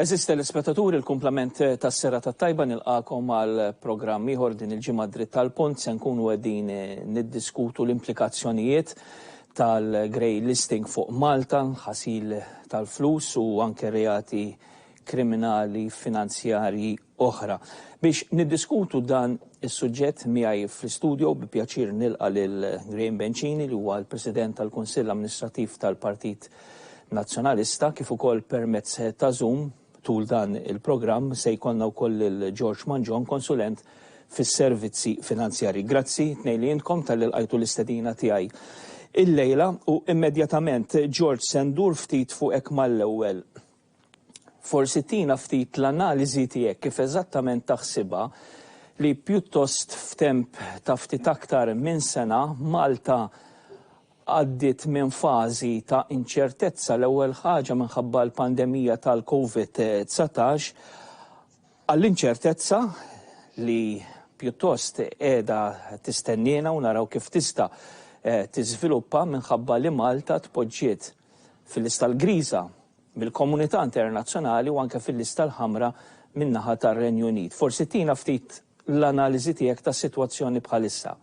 Għeżież telespettaturi, l-kumplament tas-serata t-tajba nilqagħkom għal programm ieħor din il-ġimgħa Dritt għall-Punt se nkunu qegħdin niddiskutu l-implikazzjonijiet tal-grey listing fuq Malta, ħasil tal-flus u anke reati kriminali finanzjarji oħra. Biex niddiskutu dan is-suġġett miegħi fl-istudio bi pjaċir nilqa' lil Graham Bencini li huwa l-President tal-Kunsill Amministrattiv tal-Partit Nazzjonalista kif ukoll permezz ta' Zoom tul dan il-programm se jkollna wkoll lil George Mangion, Konsulent fis-Servizzi Finanzjarji. Grazzi tnejn li intkom talli lqajtu l-istedina tiegħi illejla u immedjatament George se ndur ftit fuqek mal-ewwel. Forsi tina ftit l-analiżi tiegħek kif eżattament taħsibha li pjuttost f'temp ta' ftit aktar minn sena Malta għaddiet minn fażi ta' inċertezza l-ewwel ħaġa minħabba l-pandemija tal-Covid 19 għall-inċertezza li pjuttost qiegħda tistenniena u naraw kif tista' tiżviluppa minħabba li Malta tpoġġiet fil-lista l-griża mill-komunità internazzjonali u anke fil-lista l-ħamra min-naħa tar-Renju Unit. Forsi tina ftit l-analiżi tiegħek tas-sitwazzjoni bħalissa.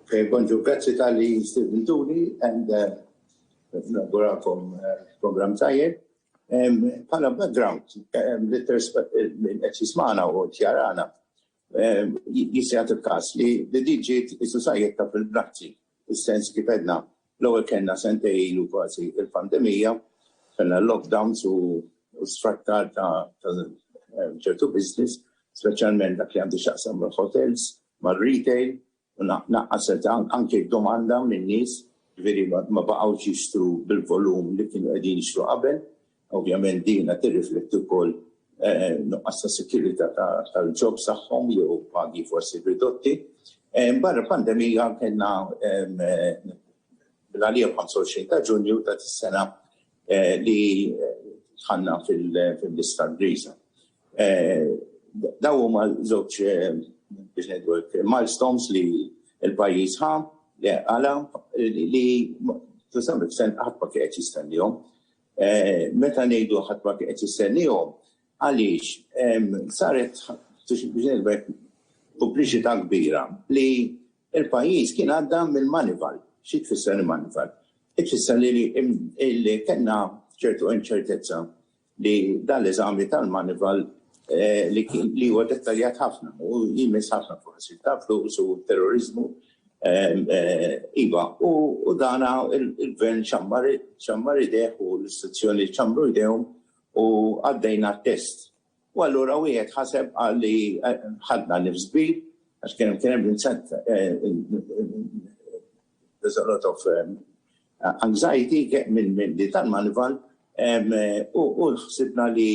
Kej Bonġu, grazzi tal-li stibintuni and naguralkom program tajjeb. Pala background, li qed jismana u tjarana, Jista' jagħti l-każ li din ġiet is-susajetta fil-brazzi, is-sens kif għedna l-ewwel kellna sentej ilu kważi l-pandemija, kellna l-lockdowns u sfrattar ta' ċertu business, speċjalment dak li għandu x'jaqsam mal-hotels, mar-retail, u naqqset anke d-domanda min-nies, jiġifieri ma baqgħux jixtru bil-volum li kienu qegħdin jixtru qabel. Ovvjament din qed tirrifletti wkoll nuqqas ta' sikurita' tal-jobs tagħhom jew pagi forsi ridotti. Barra l-pandemija kellna l-għalija 25 ta' Ġunju ta' dis-sena li ħanna fil-lista griża. Daw huma żewġ biex ngħidu milestones li l-pajjiż ħa għala li tisam il-sen ħadd ma kien qed jistennihom. Meta ngħidu ħadd ma kien qed jistennihom, għaliex saret biex ngħidu publiċità kbira li Il-pajjiż kien għadda mill-manival. Xi tfisser il-manival? Tfisser li kellna ċertu inċertezza li dan l-eżami tal-manival li huwa dettaljat ħafna u jmiss ħafna forsi ta' flus u terroriżmu iva u dana il-gvern ċammar idejh u l-istituzzjoni ċammru idejhom u għaddejna t-test. U allura wieħed ħaseb qal li ħadna nifs kbir għax kien hemm kien hemm Vincent there's a lot of anxiety minn min li tal-manival u ħsibna li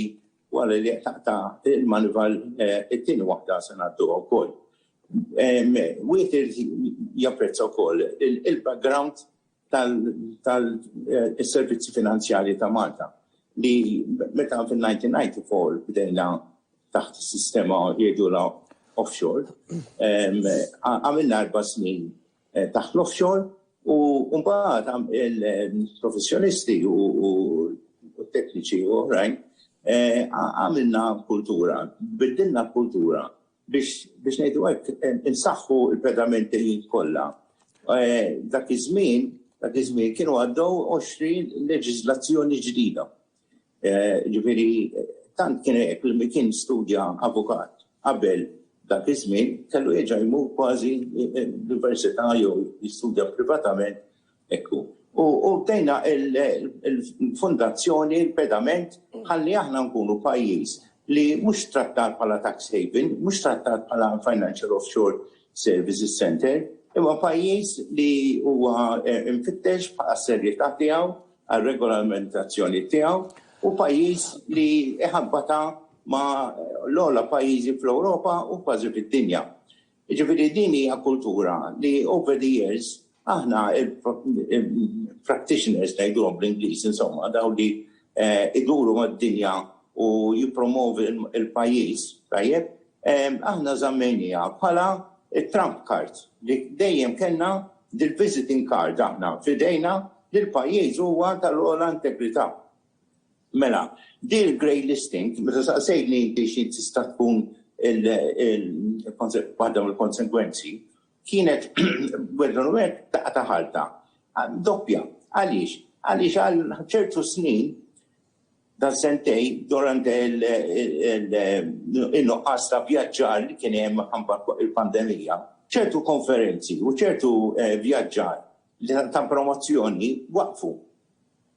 wara li taqta' il-manival it-tieni waħda se ngħadduha wkoll. Wieħed irid japprezza wkoll il-background tal-servizzi finanzjarji ta' Malta li meta fin-1994 bdejna taħt is-sistema jgħidulha offshore, għamilna erba' snin eh, taħt l-offshore u mbagħad il-professjonisti u t-tekniċi u oħrajn eh, għamilna kultura, biddilna kultura biex ngħidu hekk, insaħħu l-pedamenti li kollha. Dak iż-żmien, dak iż-żmien kienu għaddew 20 leġiżlazzjoni ġdida. Ġifieri tant kien hekk li min kien studja avukat qabel dak iż-żmien kellu jerġa' jmur kważi l-università jew jistudja privatament Hekk hu. U bdejna l-fondazzjoni, il-pedament, ħalli aħna nkunu pajjiż li mhux trattat bħala tax haven, mhux trattat bħala financial offshore services centre, imma pajjiż li huwa mfittex bħala s-serjetà tiegħu, għar-regolamentazzjoni tiegħu, u pajjiż li jħabbatha ma' l-ogħla pajjiżi fl-Ewropa u kważi fid-dinja. Jiġifieri din hija kultura li over the years aħna il-practitioners ngħiduhom bl-Ingliż insomma dawn li iduru mad-dinja u jippromovu l-pajjiż, tajjeb, aħna żammejniha bħala t-trump card li dejjem kellna dil-visiting card aħna f'idejna li l-pajjiż huwa tal-ogħla integrità. Mela, din il-grey listing, meta saqsejtni inti xi tista' tkun waħda mill-konsegwenzi, kienet wegħdhom wegħed daqqa ta' ħalta. Doppja. Għaliex? Għaliex għal ċertu snin, dan sentej, durant in-nuqqas ta' vjaġġar li kien hemm minħabba l-pandemija, ċertu konferenzi u ċertu vjaġġar ta' promozzjoni waqfu.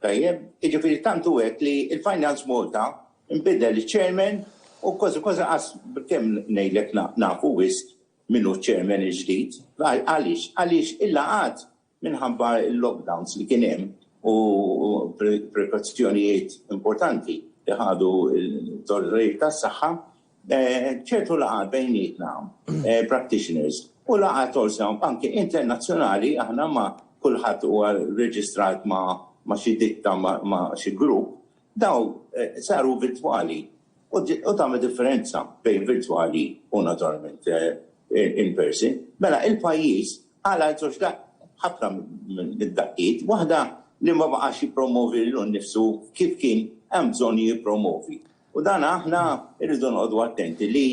Tajjeb, jiġifieri tant hu hekk li l-Finance Malta nbidel iċ-chairman u kważi kważi qas kemm ngħidlek nafu wisq min hu ċ-chairman il-ġdid. Għaliex? Għaliex il-laqgħat minħabba l-lockdowns li kien hemm u prekazzjonijiet importanti li ħadu l-awtoritajiet tas-saħħa ċertu laqgħat bejnietna, practitioners, u laqgħat also anke internazzjonali aħna ma' kulħadd huwa reġistrat ma' xi ditta ma' xi grupp, dawn saru virtwali u tagħmel differenza bejn virtwali u naturalment in person. Mela il-pajjiż għala żewġ ħafna mid-daqqiet, waħda li ma baqax jippromovi lilu nnifsu kif kien hemm bżonn jippromovi. U dan aħna rridu noqogħdu attenti li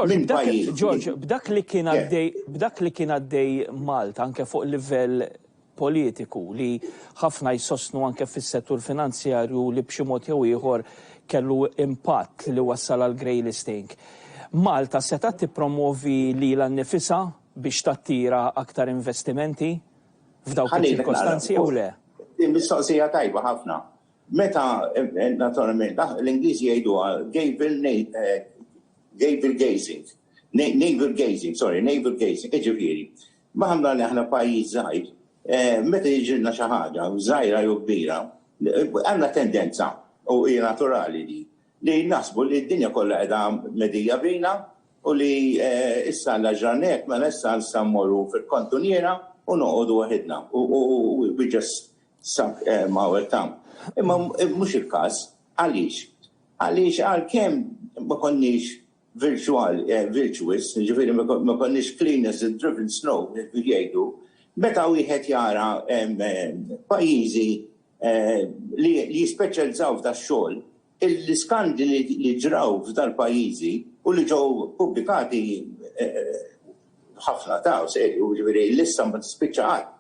minn pajjiż. George, b'dak li kien għaddej, b'dak li kien għaddej Malta anke fuq livell politiku li ħafna jsostnu anke fis-settur finanzjarju li b'xi mod jew ieħor kellu impatt li wassal għal grey listing. Malta setgħet tippromwovi lilha nnifisha biex tattira aktar investimenti f'dawk iċ-ċirkostanzi jew le? Din mistoqsija tajba ħafna. Meta, naturalment, l-Ingliżi jgħiduha gavel gavel gazing, navel gazing, sorry, navel gazing, jiġifieri, maħna li aħna pajjiż żgħir, meta jiġilna xi ħaġa, żgħira jew kbira, għandna tendenza, u hi naturali di, li naħsbu li d-dinja kollha qiegħda medija bina u li issa Alla ġralna hekk, mela issa nistgħu mmorru fil-kantuniera u noqogħdu waħidna u we just Sak hemm hawn tam. Imma mhux il-każ. Għaliex? Għaliex għalkemm ma konniex virtual, eh, virtuous, ġifieri ma konniex clean as a driven snow, jgħidu, meta wieħed jara eh, pajjiżi eh, li jispeċjalizzaw f'dax-xogħol, L-iskandli li ġraw f'dal-pajjiżi u li ġew pubblikati ħafna ta' serju, jiġifieri l-lista ma tispiċċa qatt.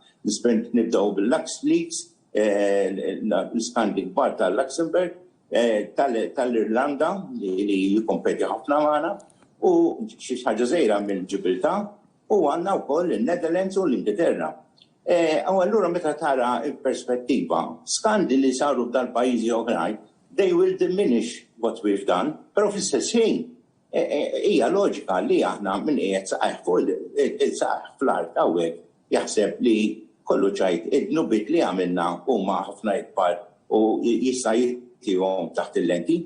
Nibdew bil-LuxLeaks, l-iskandli kbar ta' Luxembourg, tal-Irlanda li jikkompeti ħafna magħna, u xi ħaġa żgħira mill-Ġibiltà, u għandna wkoll in-Netherlands u l-Ingilterra. U allura meta tara l-perspettiva, skandi li saru f'dal-pajjiżi oħrajn, they will diminish what we've done, però fl-istess ħin hija loġika li aħna min qiegħed saqajh fuq saqajh fl-art hawnhekk jaħseb li kollox jgħid id-dnubiet li għamilna huma ħafna ikbar u jista' jitihom taħt il-lenti.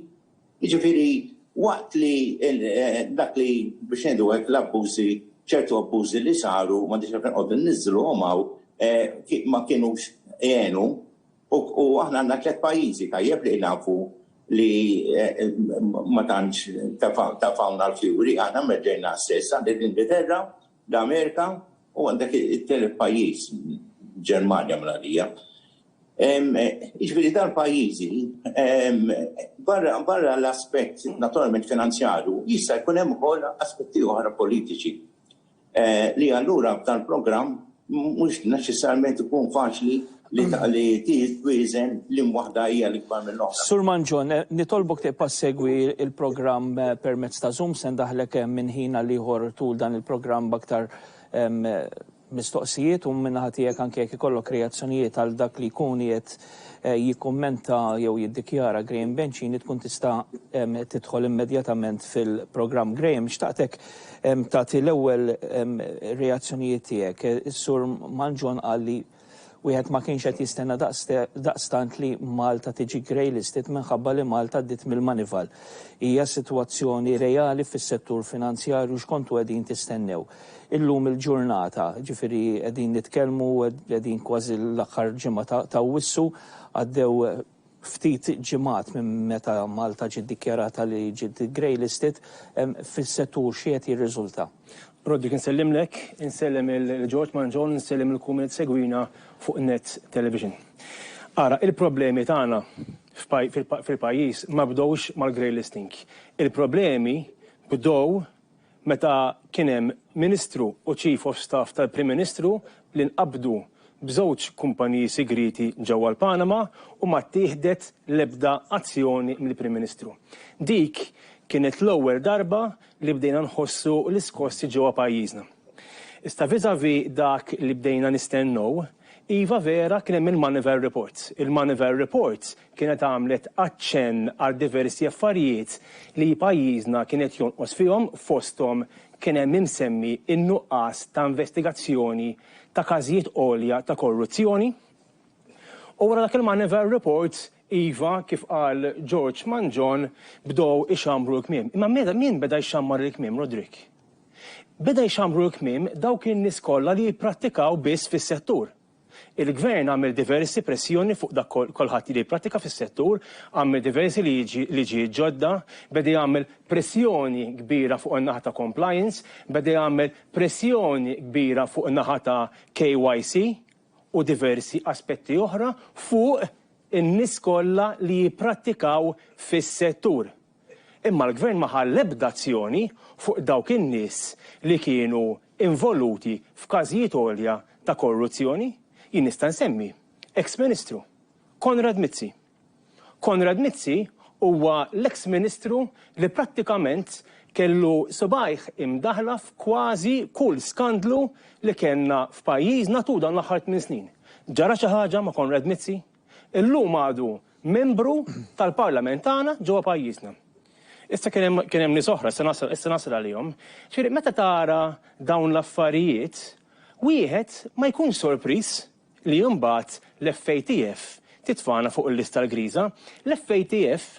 Jiġifieri waqt li dak li biex ngħidu hekk l-abbużi, ċertu abbużi li saru, m'għandix għalfejn nqogħdu nniżżluhom hawn, ma kinux għenu u aħna għandna tliet pajjiżi tajjeb li nafu li ma tantx tefgħuna l-fjuri, aħna meddejna stess, għandi l-Ingilterra, l-Amerika u għandek it-tielet pajjiż Ġermanja minn għalija. Jiġifieri dan pajjiżi barra l-aspett naturalment finanzjarju jista' jkun hemm ukoll aspetti oħra politiċi li allura f'dan il-programm mhux neċessarjament ikun faċli Li twieżen liema waħda hija l-ikbar mill-oħra. Sur Mangion, nitolbok tibqa' ssegwi l-programm permezz ta' Zoom. Se ndaħħlek minn ħin għal ieħor tul dan il-programm b'aktar mistoqsijiet u min-naħa tiegħek anke jekk ikollok reazzjonijiet għal dak li jkun qiegħed jikkummenta jew jiddikjara Graham Bencini tkun tista' tidħol immedjatament fil-programm. Graham, xtaqtek tagħti l-ewwel reazzjonijiet tiegħek. Is-Sur Mangion qal li Wieħed ma kienx qed jistenna daqstant li Malta tiġi grey listed minħabba li Malta għaddiet mill-manival. Hija sitwazzjoni reali fis-settur finanzjarju x'kontu qegħdin tistennew? Illum il-ġurnata, ġifieri qegħdin nitkellmu qegħdin kważi l-aħħar ġimgħa ta' Awwissu, għaddew ftit ġimgħat minn meta Malta ġiet dikjarata li ġiet grey listed, fis-settur xi qed jirriżulta? Roderick Insellimlek, insellem il George Mangion, insellem lil kull min qed isegwina fuq Net Television. Ara, il-problemi tagħna f'pajjiż ma bdewx mal-grey listing. Il-problemi bdew meta kien hemm Ministru u Chief of Staff tal-Prim Ministru li nqabdu b'żewġ kumpaniji sigrieti ġewwa l-Panama u ma ttieħdet l-ebda azzjoni mill-Prim Ministru. Dik kienet l-ewwel darba li bdejna nħossu l-iskossi ġewwa pajjiżna. Iżda vis-à-vis dak li bdejna nistennew, iva vera kien hemm il-Moneyval Reports. Il-Moneyval Reports kienet għamlet aċċenn għal diversi affarijiet li pajjiżna kien qed jonqos fihom, fosthom kien hemm imsemmi n-nuqqas ta' investigazzjoni ta' każijiet għolja ta' korruzzjoni. U wara dak il-Moneyval Report, iva, kif qal George Mangion, bdew ixammru l-kmiem. Imma min beda jxammar il-kmiem, Roderick? Beda jxammru l-kmiem dawk in-nies kollha li jipprattikaw biss fis-settur. Il-Gvern għamel diversi pressjoni fuq dak kolħadd li jipprattika fis-settur, għamel diversi liġijiet ġodda, beda jagħmel pressjoni kbira fuq in-naħa ta' compliance, beda jagħmel pressjoni kbira fuq in-naħa ta' KYC u diversi aspetti oħra fuq in-nies kollha li jipprattikaw fis-settur. Imma l-Gvern ma ħa l-ebda azzjoni fuq dawk in-nies li kienu involuti f'każijiet għolja ta' korruzzjoni. Jien nista' nsemmi eks Ministru, Konrad Mizzi. Konrad Mizzi huwa l-eks Ministru li prattikament kellu subgħajh imdaħħla f'kważi kull skandlu li kellna f'pajjiżna tul dawn l-aħħar tmien snin. Ġara xi ħaġa ma' Konrad Mizzi? Illum għadu membru tal-Parlament tagħna ġewwa pajjiżna. Issa kien hemm kien hemm nies oħra, issa nasal issa nasal għalihom. Ġifieri meta tara dawn l-affarijiet, wieħed ma jkunx sorpriż li imbagħad l-FATF titfagħna fuq il-lista l-griża. L-FATF,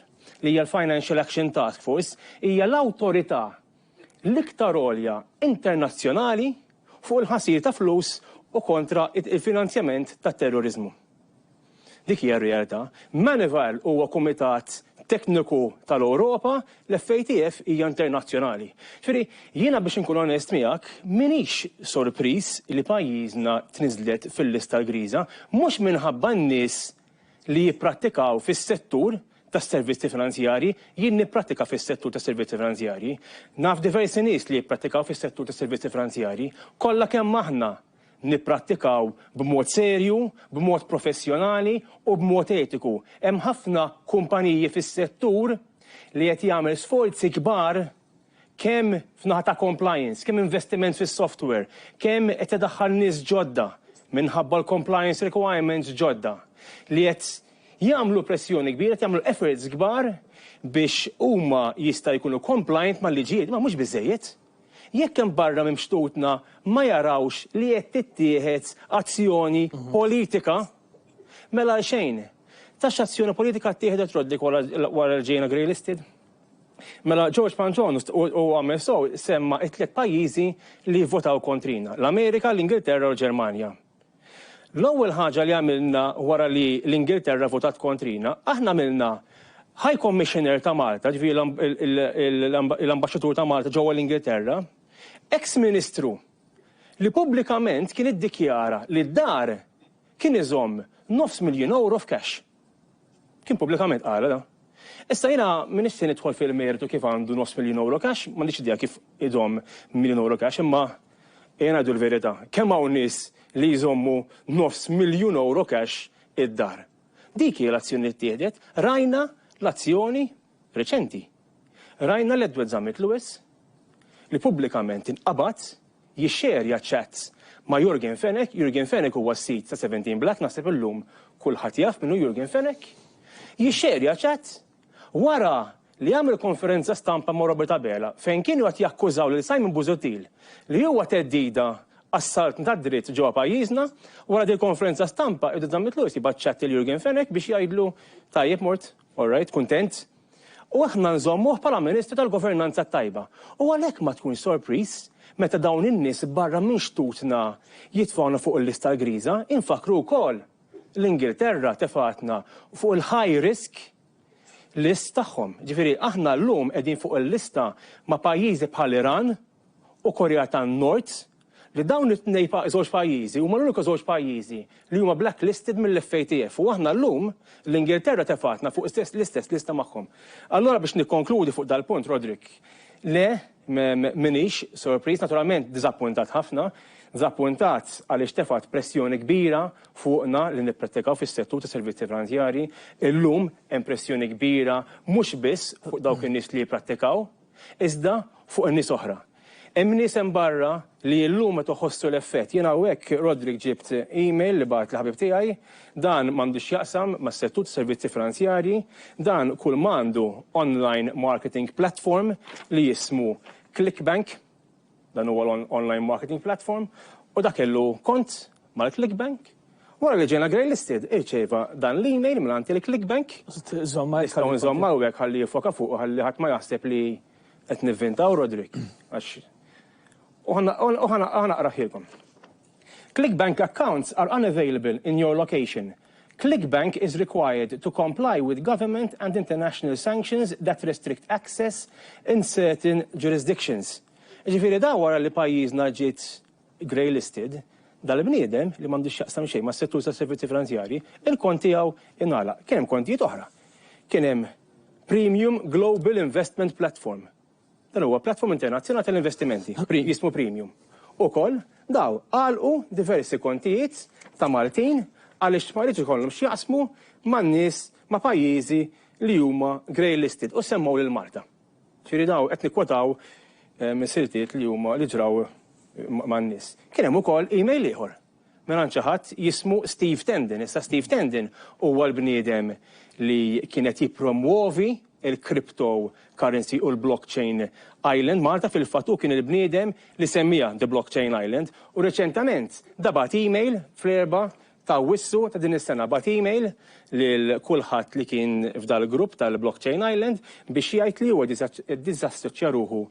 li hija l-Financial Action Task Force, hija l-awtorità l-iktar għolja internazzjonali fuq il-ħasil ta' flus u kontra il-finanzjament tat-terroriżmu. Dik hija r-realtà. Manival huwa kumitat tekniku tal-Ewropa, l-FATF hija internazzjonali. Ġifieri, jiena biex inkun onest miegħek, m'iniex sorpriż li pajjiżna tniżżlet fil-lista l-griża, mhux minħabba n-nies li jipprattikaw fis-settur tas-servizzi finanzjarji, jien nipprattika fis-settur tas-servizzi finanzjarji. Naf diversi nies li jipprattikaw fis-settur tas-servizzi finanzjarji. Kollha kemm aħna nipprattikaw b'mod serju, b'mod professjonali u b'mod etiku. Hemm ħafna kumpaniji fis-settur li qed jagħmel sforzi kbar kemm f'naħa ta' compliance, kemm investiment fis-software, kemm qed idaħħal nies ġodda minħabba l-compliance requirements ġodda li qed jagħmlu pressjoni kbira, qed jagħmlu efforts kbar biex huma jista' jkunu compliant mal-liġijiet, imma mhux biżżejjed. Jekk hemm barra minn xtutna ma jarawx li qed tittieħed azzjoni politika, mela għalxejn. Ta x'azzjoni politika ttieħdet Roderick wara l-Ġejna Grey Listed? Mela George Panzon u għamel sew semma it-tliet pajjiżi li votaw kontrina, l-Amerika, l-Ingilterra u l-Ġermanja. L-ewwel ħaġa li għamilna wara li l-Ingilterra votat kontrina, aħna għamilna High Commissioner ta' Malta, ġifieri l-Ambaxxatur ta' Malta ġewwa l-Ingilterra, eks Ministru li pubblikament kien iddikjara li d-dar kien iżomm nofs miljun ewro f'cash. Kien pubblikament qal dan. Issa jiena ma nixtieq nidħol fil-mertu kif għandu nofs miljun ewro cash, m'għandix idea kif idomm miljun ewro cash imma ejja ngħidu l-verità, kemm hawn nies li jżommu nofs miljun ewro cash id-dar? Dik hi l-azzjoni li ttieħdet, rajna l-azzjoni reċenti, rajna l-Edward Zammit Lewis li pubblikament inqabad jixxerja chats ma' Yorgen Fenech, Yorgen Fenech huwa s-sid ta' Seventeen Black, naħseb illum kulħadd jaf min hu Yorgen Fenech, jixxerja chats wara li għamel konferenza stampa ma' Robert Abela fejn kienu qed jakkużaw lil Simon Busuttil li huwa theddida għas-saltna tad-dritt ġewwa pajjiżna, wara dil-konferenza stampa Edward Zammit Lewis jibgħat chat lil Yorgen Fenech biex jgħidlu tajjeb mort All right, kuntent. U aħna nżommuh bħala ministru tal-governanza t-tajba. U għalhekk ma tkunx sorpriż meta dawn in-nies barra minn xtutna jitfgħuna fuq il-lista l-griża. Infakkru wkoll li Ingilterra tefgħetna fuq il-high risk list tagħhom. Ġifieri aħna llum qegħdin fuq il-lista ma' pajjiżi bħal Iran u Korea tan-Nord, li dawn it-tnej pa żewġ pajjiżi huma l-uniku żewġ pajjiżi li huma blacklisted mill-FATF u aħna llum, l-Ingilterra tefgħetna fuq istess l-istess lista magħhom. Allura biex nikkonkludi fuq dal-punt, Roderick, le, m'iniex sorpriż, naturalment diżappuntat ħafna, diżappuntat għaliex tefgħet pressjoni kbira fuqna li nipprattikaw fis-settur tas-servizzi franzjarji. Illum hemm pressjoni kbira mhux biss fuq dawk in-nies li jipprattikaw, iżda fuq in-nies oħra. Hemm nies hemm barra li illum qed iħossu l-effett. Jien hawnhekk, Roderick, ġibt email li bagħatli ħabib tiegħi, dan m'għandu x'jaqsam mas-settur tas-servizzi finanzjarji, dan kulmagħandu online marketing platform li jismu Clickbank, Dan huwa l-online marketing platform u dak kellu kont mal-ClickBank. Wara li ġejna greylisted, irċieva dan l-email mingħand il-ClickBank. Nistgħu nżomm hawnhekk ħalli jiffoka fuqu ħalli ħadd ma jaħseb li qed nivvintaw Roderick għax u ħa naqraħhielkom. ClickBank accounts are unavailable in your location. ClickBank is required to comply with government and international sanctions that restrict access in certain jurisdictions. Jiġifieri dan wara li pajjiżna ġiet grey listed, dal-bniedem, li m'għandu x'jaqsam xejn mas-settur tas-servizzi finanzjarji, il-kont tiegħu ingħalaq. Kien hemm kontijiet oħra. Kien hemm Premium Global Investment Platform. Dan huwa Platform Internazzjonali tal-Investimenti, jismu Premium. Ukoll, dawn għalqu diversi kontijiet ta' Maltin għaliex ma jridx ikollhom x'jaqsmu ma' nies ma' pajjiżi li huma grey listed u semmgħu lil Malta. Ġifieri dawn qed nikkwotaw siltiet li huma li ġraw man-nies. Kien hemm ukoll email ieħor Mingħand xi ħadd jismu Steve Tendon. Issa Steve Tendon huwa l-bniedem li kien qed jippromwovi l-crypto currency u l-blockchain island Malta. Fil-fatt hu kien il-bniedem li semmiha The Blockchain Island u reċentament da bagħat email fl-Erbgħa ta' Awwissu ta' din is-sena bagħat email lil kulħadd li kien f'dal-grupp tal-Blockchain Island biex jgħid li huwa disassoċja ruħu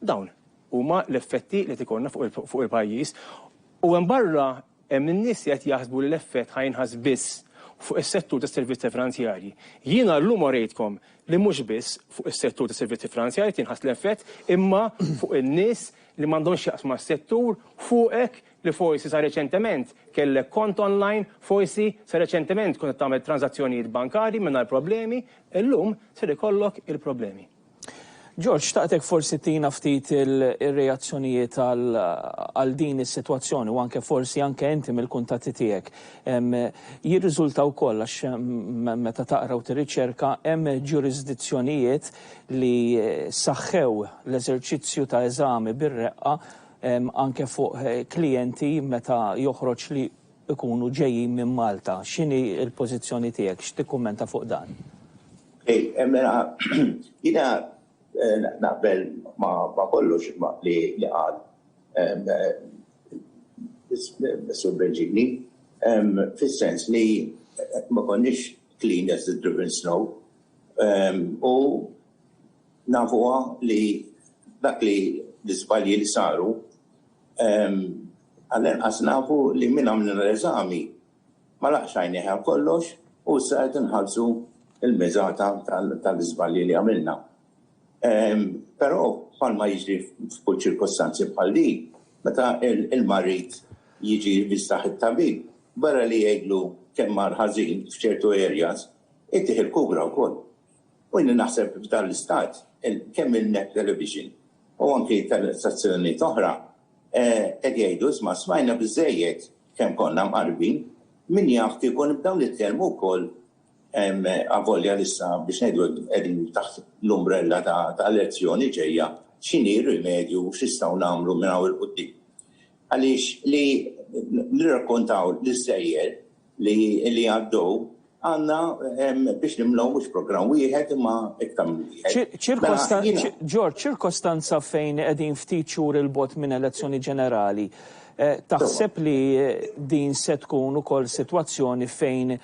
Dawn huma l-effetti li qed ikollna fuq il-pajjiż u hemm barra hemm in-nies li qed jaħsbu li l-effett ħa jinħass biss fuq is-settur tas-servizzi franzjarji. Jiena llum orejtkom li mhux biss fuq is-settur tas-servizzi franzjarji qed jinħass l-effett imma fuq in-nies li m'għandhom x'jaqsmu mas-settur, fuqek li forsi sa reċentement kellek kont online, forsi sa reċentement kont qed tagħmel tranżazzjonijiet bankarji mingħajr problemi, illum ser ikollok il-problemi. George, xtaqtek forsi tina ftit ir-reazzjonijiet għal din is-sitwazzjoni u anke forsi anke inti mill-kuntatti tiegħek. Jirriżulta wkoll għax meta taqra u tirriċerka hemm ġurisdizzjonijiet li saħħew l-eżerċizzju ta' eżami bir-reqqa anke fuq klijenti meta joħroġ li ikunu ġejjin minn Malta. X'inhi l-pożizzjoni tiegħek? X'tikkummenta fuq dan? Okej, mela jiena naqbel ma' kollox li qal is-Sur Bernġigli fis-sens li ma konniex clean as the driven snow u nafuha li dak li l-iżbalji li saru Għall-inqas nafu li min għamlilna l-eżami ma laqgħax għajnejh għal kollox u issa qed inħallsu l-miżata tal-iżbalji li għamilna. Però bħalma jiġri f'kull ċirkostanzi bħal din, meta l-marid jiġi jivviżtah it-tabib, barra li jgħidlu kemm mar ħażin f'ċertu areas, ittih il-kura wkoll. U jiena naħseb f'dan l-istat kemm il-MEP Television u anki telestazzjonijiet oħra Qed jgħidu, isma' smajna biżżejjed kemm konna mqarrbin, min jaf kieku nibdew nitkellmu wkoll avolja li issa biex ngħidu hekk qegħdin taħt l-umbrella ta' elezzjoni ġejja, x'inhi r-rimedju u x'nistgħu nagħmlu minn hawn 'il quddiem. Għaliex li nirrakkontaw l-iżżejjed li jgħaddew għandna biex nimlew mhux programm wieħed imma iktar minn wieħed. George, ċirkostanza fejn qegħdin ftit xhur 'il bogħod minn elezzjoni ġenerali, taħseb li din se tkun ukoll sitwazzjoni fejn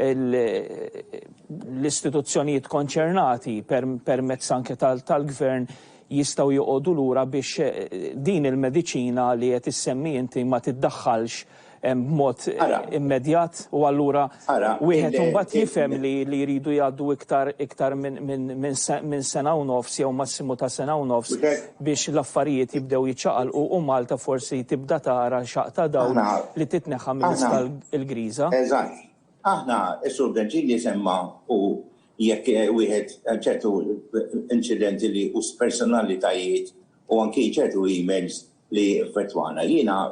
l-istituzzjonijiet konċernati permezz anke tal-Gvern jistgħu joqogħdu lura biex din il-mediċina li qed issemmi inti ma tiddaħħalx b'mod immedjat u allura wieħed imbagħad jifhem li jridu jgħaddu iktar iktar minn sena u nofs jew massimu ta' sena u nofs biex l-affarijiet jibdew jiċċaqalqu u Malta forsi tibda tara xaqq ta' dawl li titneħħa mill-lista l-griża. Eżatt. Aħna, is-Sur Virgilio semma u jekk wieħed ċertu inċidenti li u personalitajiet u anki ċertu emails li effettwana. Jiena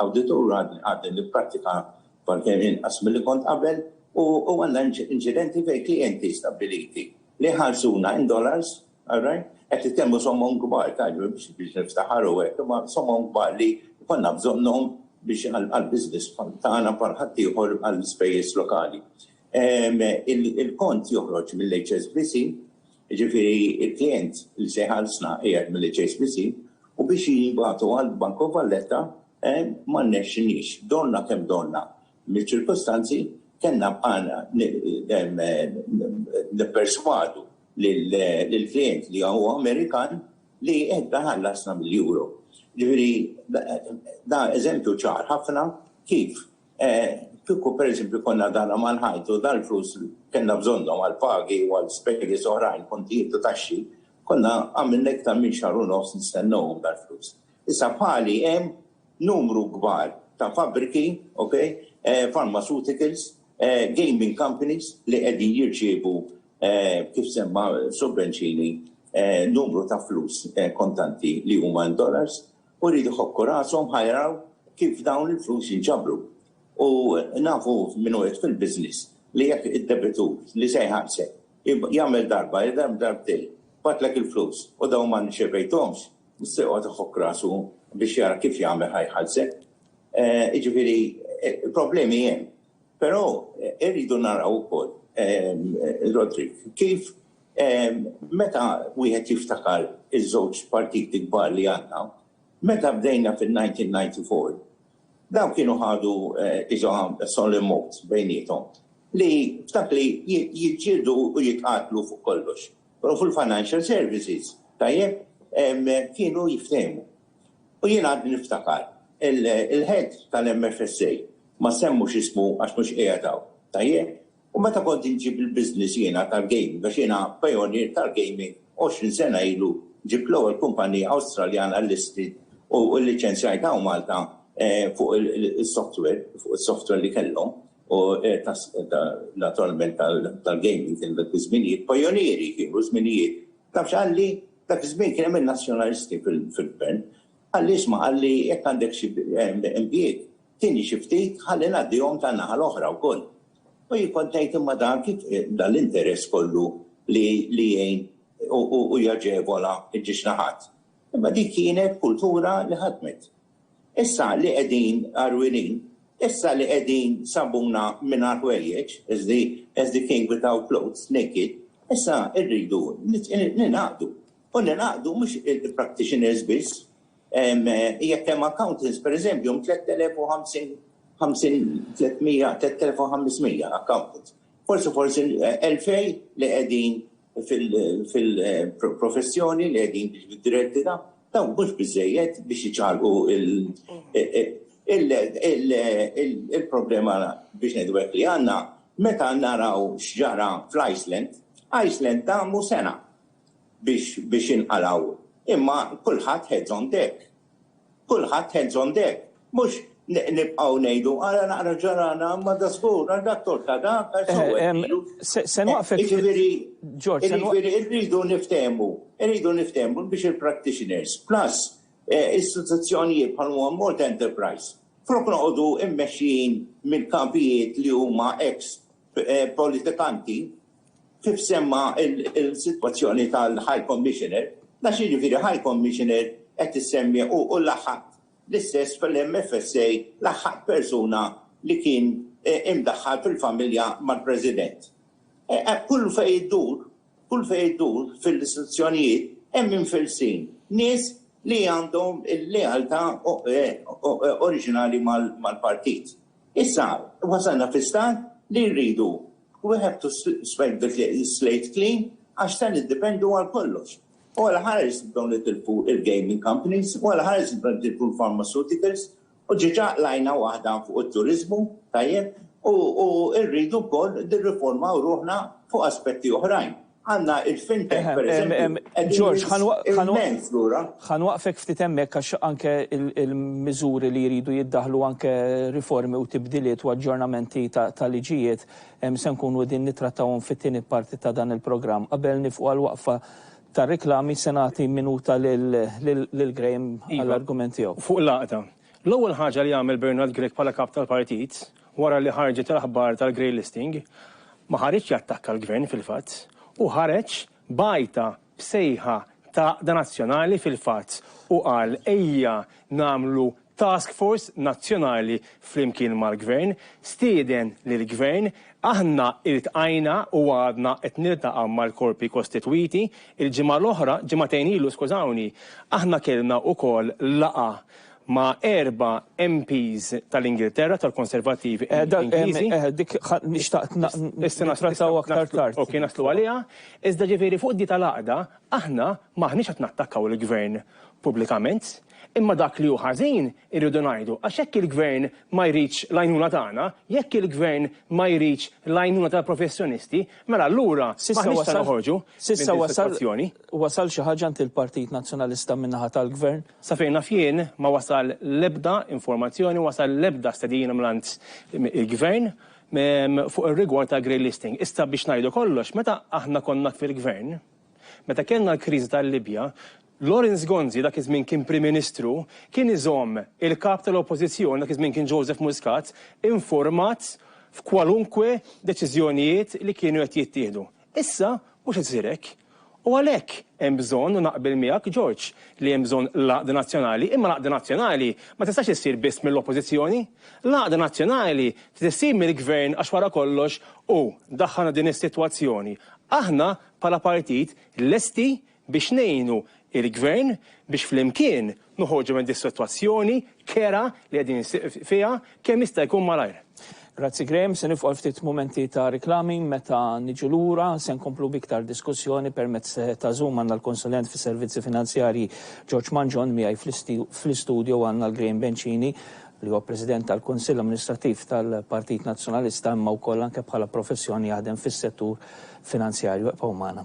awditur għadni nipprattika barkemm inqas milli kont qabel u għandna inċidenti fejn klijenti stabbiliti li jħallsuna in dollars, all right, qed nitkellmu sommom kbar, tgħidlu biex niftaħar u hekk, imma sommom kbar li jkollna bżonnhom biex għall-business tagħna bħal ħaddieħor għall-ispejjeż lokali. Il-kont joħroġ mill-HSBC. jiġifieri l-klijent li se jħallsna qiegħed mill-HSBC, u biex jibagħtu għall-Banco Valletta ma rnexxiniex. Donna kemm donna miċ-ċirkustanzi, kellna bqajna nipperswadu lill-klijent li huwa Amerikan li jerġa' jħallasna bil-euro. Jiġifieri dan eżempju ċar ħafna kif Kieku pereżempju konna dana mal-ħajt u dal-flus kellna bżonnhom għal pagi u għal spejjeż oħrajn, kontijiet u taxxi, konna għamilna iktar minn xahar u nofs nistennewhom dal-flus. Issa bħali hemm numru kbar ta' fabbriki, ok, pharmaceuticals, gaming companies li qegħdin jirċievu, kif semma Sur Bencini, numru ta' flus kontanti li huma in dollars. u jridu jħokku rashom ħa jaraw kif dawn il-flus jinġabru. U nafu minn uħud fil-business li jekk id-debitur li se jħallsek jagħmel darba, jagħmel darbtejn, bagħatlek il-flus u dawn ma rċevejthomx, se joqgħod iħokk rasu biex jara kif jagħmel ħa jħallsek. Jiġifieri problemi hemm. Però rridu naraw ukoll, Roderick, kif Meta wieħed jiftakar iż-żewġ partiti kbar li għandna, meta bdejna fin-1994, dawn kienu ħadu iżoha solemn oath bejniethom li f'dak li jiġġieldu u jitqatlu fuq kollox. U fil-financial services, tajjeb, kienu jiftehmu. U jien għadni niftakar, il-head tal-MFSA, ma nsemmux ismu għax mhux qiegħed hawn, tajjeb, U meta kont inġib il-business jiena tal-gaming, għax jiena pajonier tal-gaming, għoxrin sena ilu ġibt l-ewwel kumpanija Awstraljana listed u lliċenzjajtha hawn Malta fuq is-software, fuq is-software li kellhom u naturalment tal-gaming kien dak iż-żminijiet, pajonieri kienu żminijiet. Taf x'qalli? Dak iż-żmien kien hemm in-Nazzjonalisti fil-Gvern. Qalli isma' qalli jekk għandek xi impjieg Tieni xi ftit ħalli ngħaddihom tan-naħa l-oħra wkoll. U jien kont ngħid imma dan kif dan l-interess kollu li jgħin u jaġevola ġiex naħat. Imma dik kienet kultura li ħadmet. Issa li qegħdin għarwienin, issa li qegħdin sabuna mingħajr ħwejjeġ, as the as the king without clothes, naked, issa rridu ningħaqdu. U ningħaqdu mhux il-practitioners biss, Jekk hemm accountants, pereżempju, hemm 3,050, 300, 3,500 accountants. Forsi forsi 2,000 li qegħdin fil-professjoni li qegħdin jiġu diretti dawn, dawn mhux biżżejjed biex iċarrqu il-problema biex ngħidu hekk li għandna. Meta naraw x'ġara fl-Iceland, Iceland damu sena biex biex jinqalgħu. Imma kulħadd heads on deck. Kulħadd heads on deck. Mhux nibqgħu ngħidu ara naqra ġarana ma da żgur għal dak torta dak għal sewwedilu. Se nwaqfek. Jiġifieri Ġorġ, jiġifieri rridu niftehmu, irridu niftehmu biex il-practitioners plus istituzzjonijiet bħal huwa Malta Enterprise flok noqogħdu mmexxijin mill-kapijiet li huma ex politikanti Kif semma l-sitwazzjoni tal-High Commissioner, nafx jiġifieri High Commissioner qed issemmi u laħħqt l-istess fl-MFSA laħħqt persuna li kien imdaħħal fil-familja mal-President. Kull fejn iddur, kull fejn iddur fil-istituzzjonijiet hemm imfillsin, nies li għandhom il-lealtà oriġinali mal-partit. Issa wasalna fi stat li rridu we have to sweep the slate clean għax se niddipendu għal kollox. U għala ħares nibdew nitilfu il-gaming companies, u għala ħares nibdew nitilfu l-pharmaceuticals, u ġiġa qlajna waħda fuq it-turiżmu, tajjeb, u rridu wkoll nirriformaw ruħna fuq aspetti oħrajn. Għandna il-fintech, pereżempju. George, ħa nwaqfek ftit hemmhekk għax anke l-miżuri li jridu jiddaħħlu anke riformi u tibdiliet u aġġornamenti ta' liġijiet se nkunu qegħdin nittrattawhom fit-tieni parti ta' dan il-programm. Qabel niefqu għal waqfa tar-riklami se nagħti minuta lil Graham għall-argument tiegħu. Fuq l-għaqda. L-ewwel ħaġa li għamel Bernard Grech bħala Kap tal-Partit Wara li ħarġet l-aħbar tal-grey listing, ma ħariġx jattakka l-Gvern fil-fatt, hu ħareġ b'għajta b'sejħa ta' għaqda nazzjonali fil-fatt u qal ejja nagħmlu task force nazzjonali flimkien mal-Gvern, stieden lill-Gvern, aħna iltqajna u għadna qed niltaqa' mal-korpi kostitwiti, il-ġimgħa l-oħra, ġimagħtejn ilu skużawni, aħna kellna wkoll laqgħa ma' erba' MPs tal-Ingilterra, tal-Konservattivi Ingliżi. Eh, dik xtaqt nittrattaw aktar tard. Ok, naslu għaliha. Iżda ġifieri fuq di tal-għaqda, aħna m'aħniex qed nattakkaw il-Gvern pubblikament, imma dak li hu ħażin irridu ngħidu għax jekk il-Gvern ma jridx l-għajnuna tagħna, jekk il-Gvern ma jridx l-għajnuna tal-professjonisti, mela allura m'aħniex se noħorġu minn din is-sitwazzjoni. Wasal xi ħaġa għand il-Partit Nazzjonalista min-naħa tal-Gvern? Sa fejn naf jien, ma wasal l-ebda informazzjoni, ma wasal l-ebda stedina mingħand il-Gvern fuq ir-rigward tal-grey listing. Issa biex ngħidu kollox, meta aħna konna fil-Gvern, meta kellna l-kriżi tal-Libja, Lawrence Gonzi, dak iż-żmien kien Prim Ministru, kien iżomm il-Kap tal-Oppożizzjoni, dak iż-żmien kien Joseph Muscat, informat f'kwalunkwe deċiżjonijiet li kienu qed jittieħdu. Issa mhux qed isir hekk. U għalhekk hemm bżonn, u naqbel miegħek, George, li hemm bżonn l-għaqda nazzjonali, imma l-għaqda nazzjonali ma tistax issir biss mill-Oppożizzjoni. L-għaqda nazzjonali trid issir mill-Gvern għax wara kollox hu daħħalna din is-sitwazzjoni. Aħna bħala partit lesti biex ngħinu l-Gvern biex flimkien noħorġu minn dis-sitwazzjoni kerha li qegħdin fiha kemm jista' jkun malajr. Grazzi Graham, se nifqu għal ftit mumenti ta' riklami, meta niġu lura se nkomplu b'iktar diskussjoni permezz ta' Zoom għandna l-Konsulent fis-Servizzi Finanzjarji George Mangion, miegħi fl-istudjo għandna 'l Graham Bencini li huwa President tal-Kunsill Amministrattiv tal-Partit Nazzjonalista imma wkoll anke bħala professjoni jaħdem fis-settur finanzjarju. Ibqgħu magħna.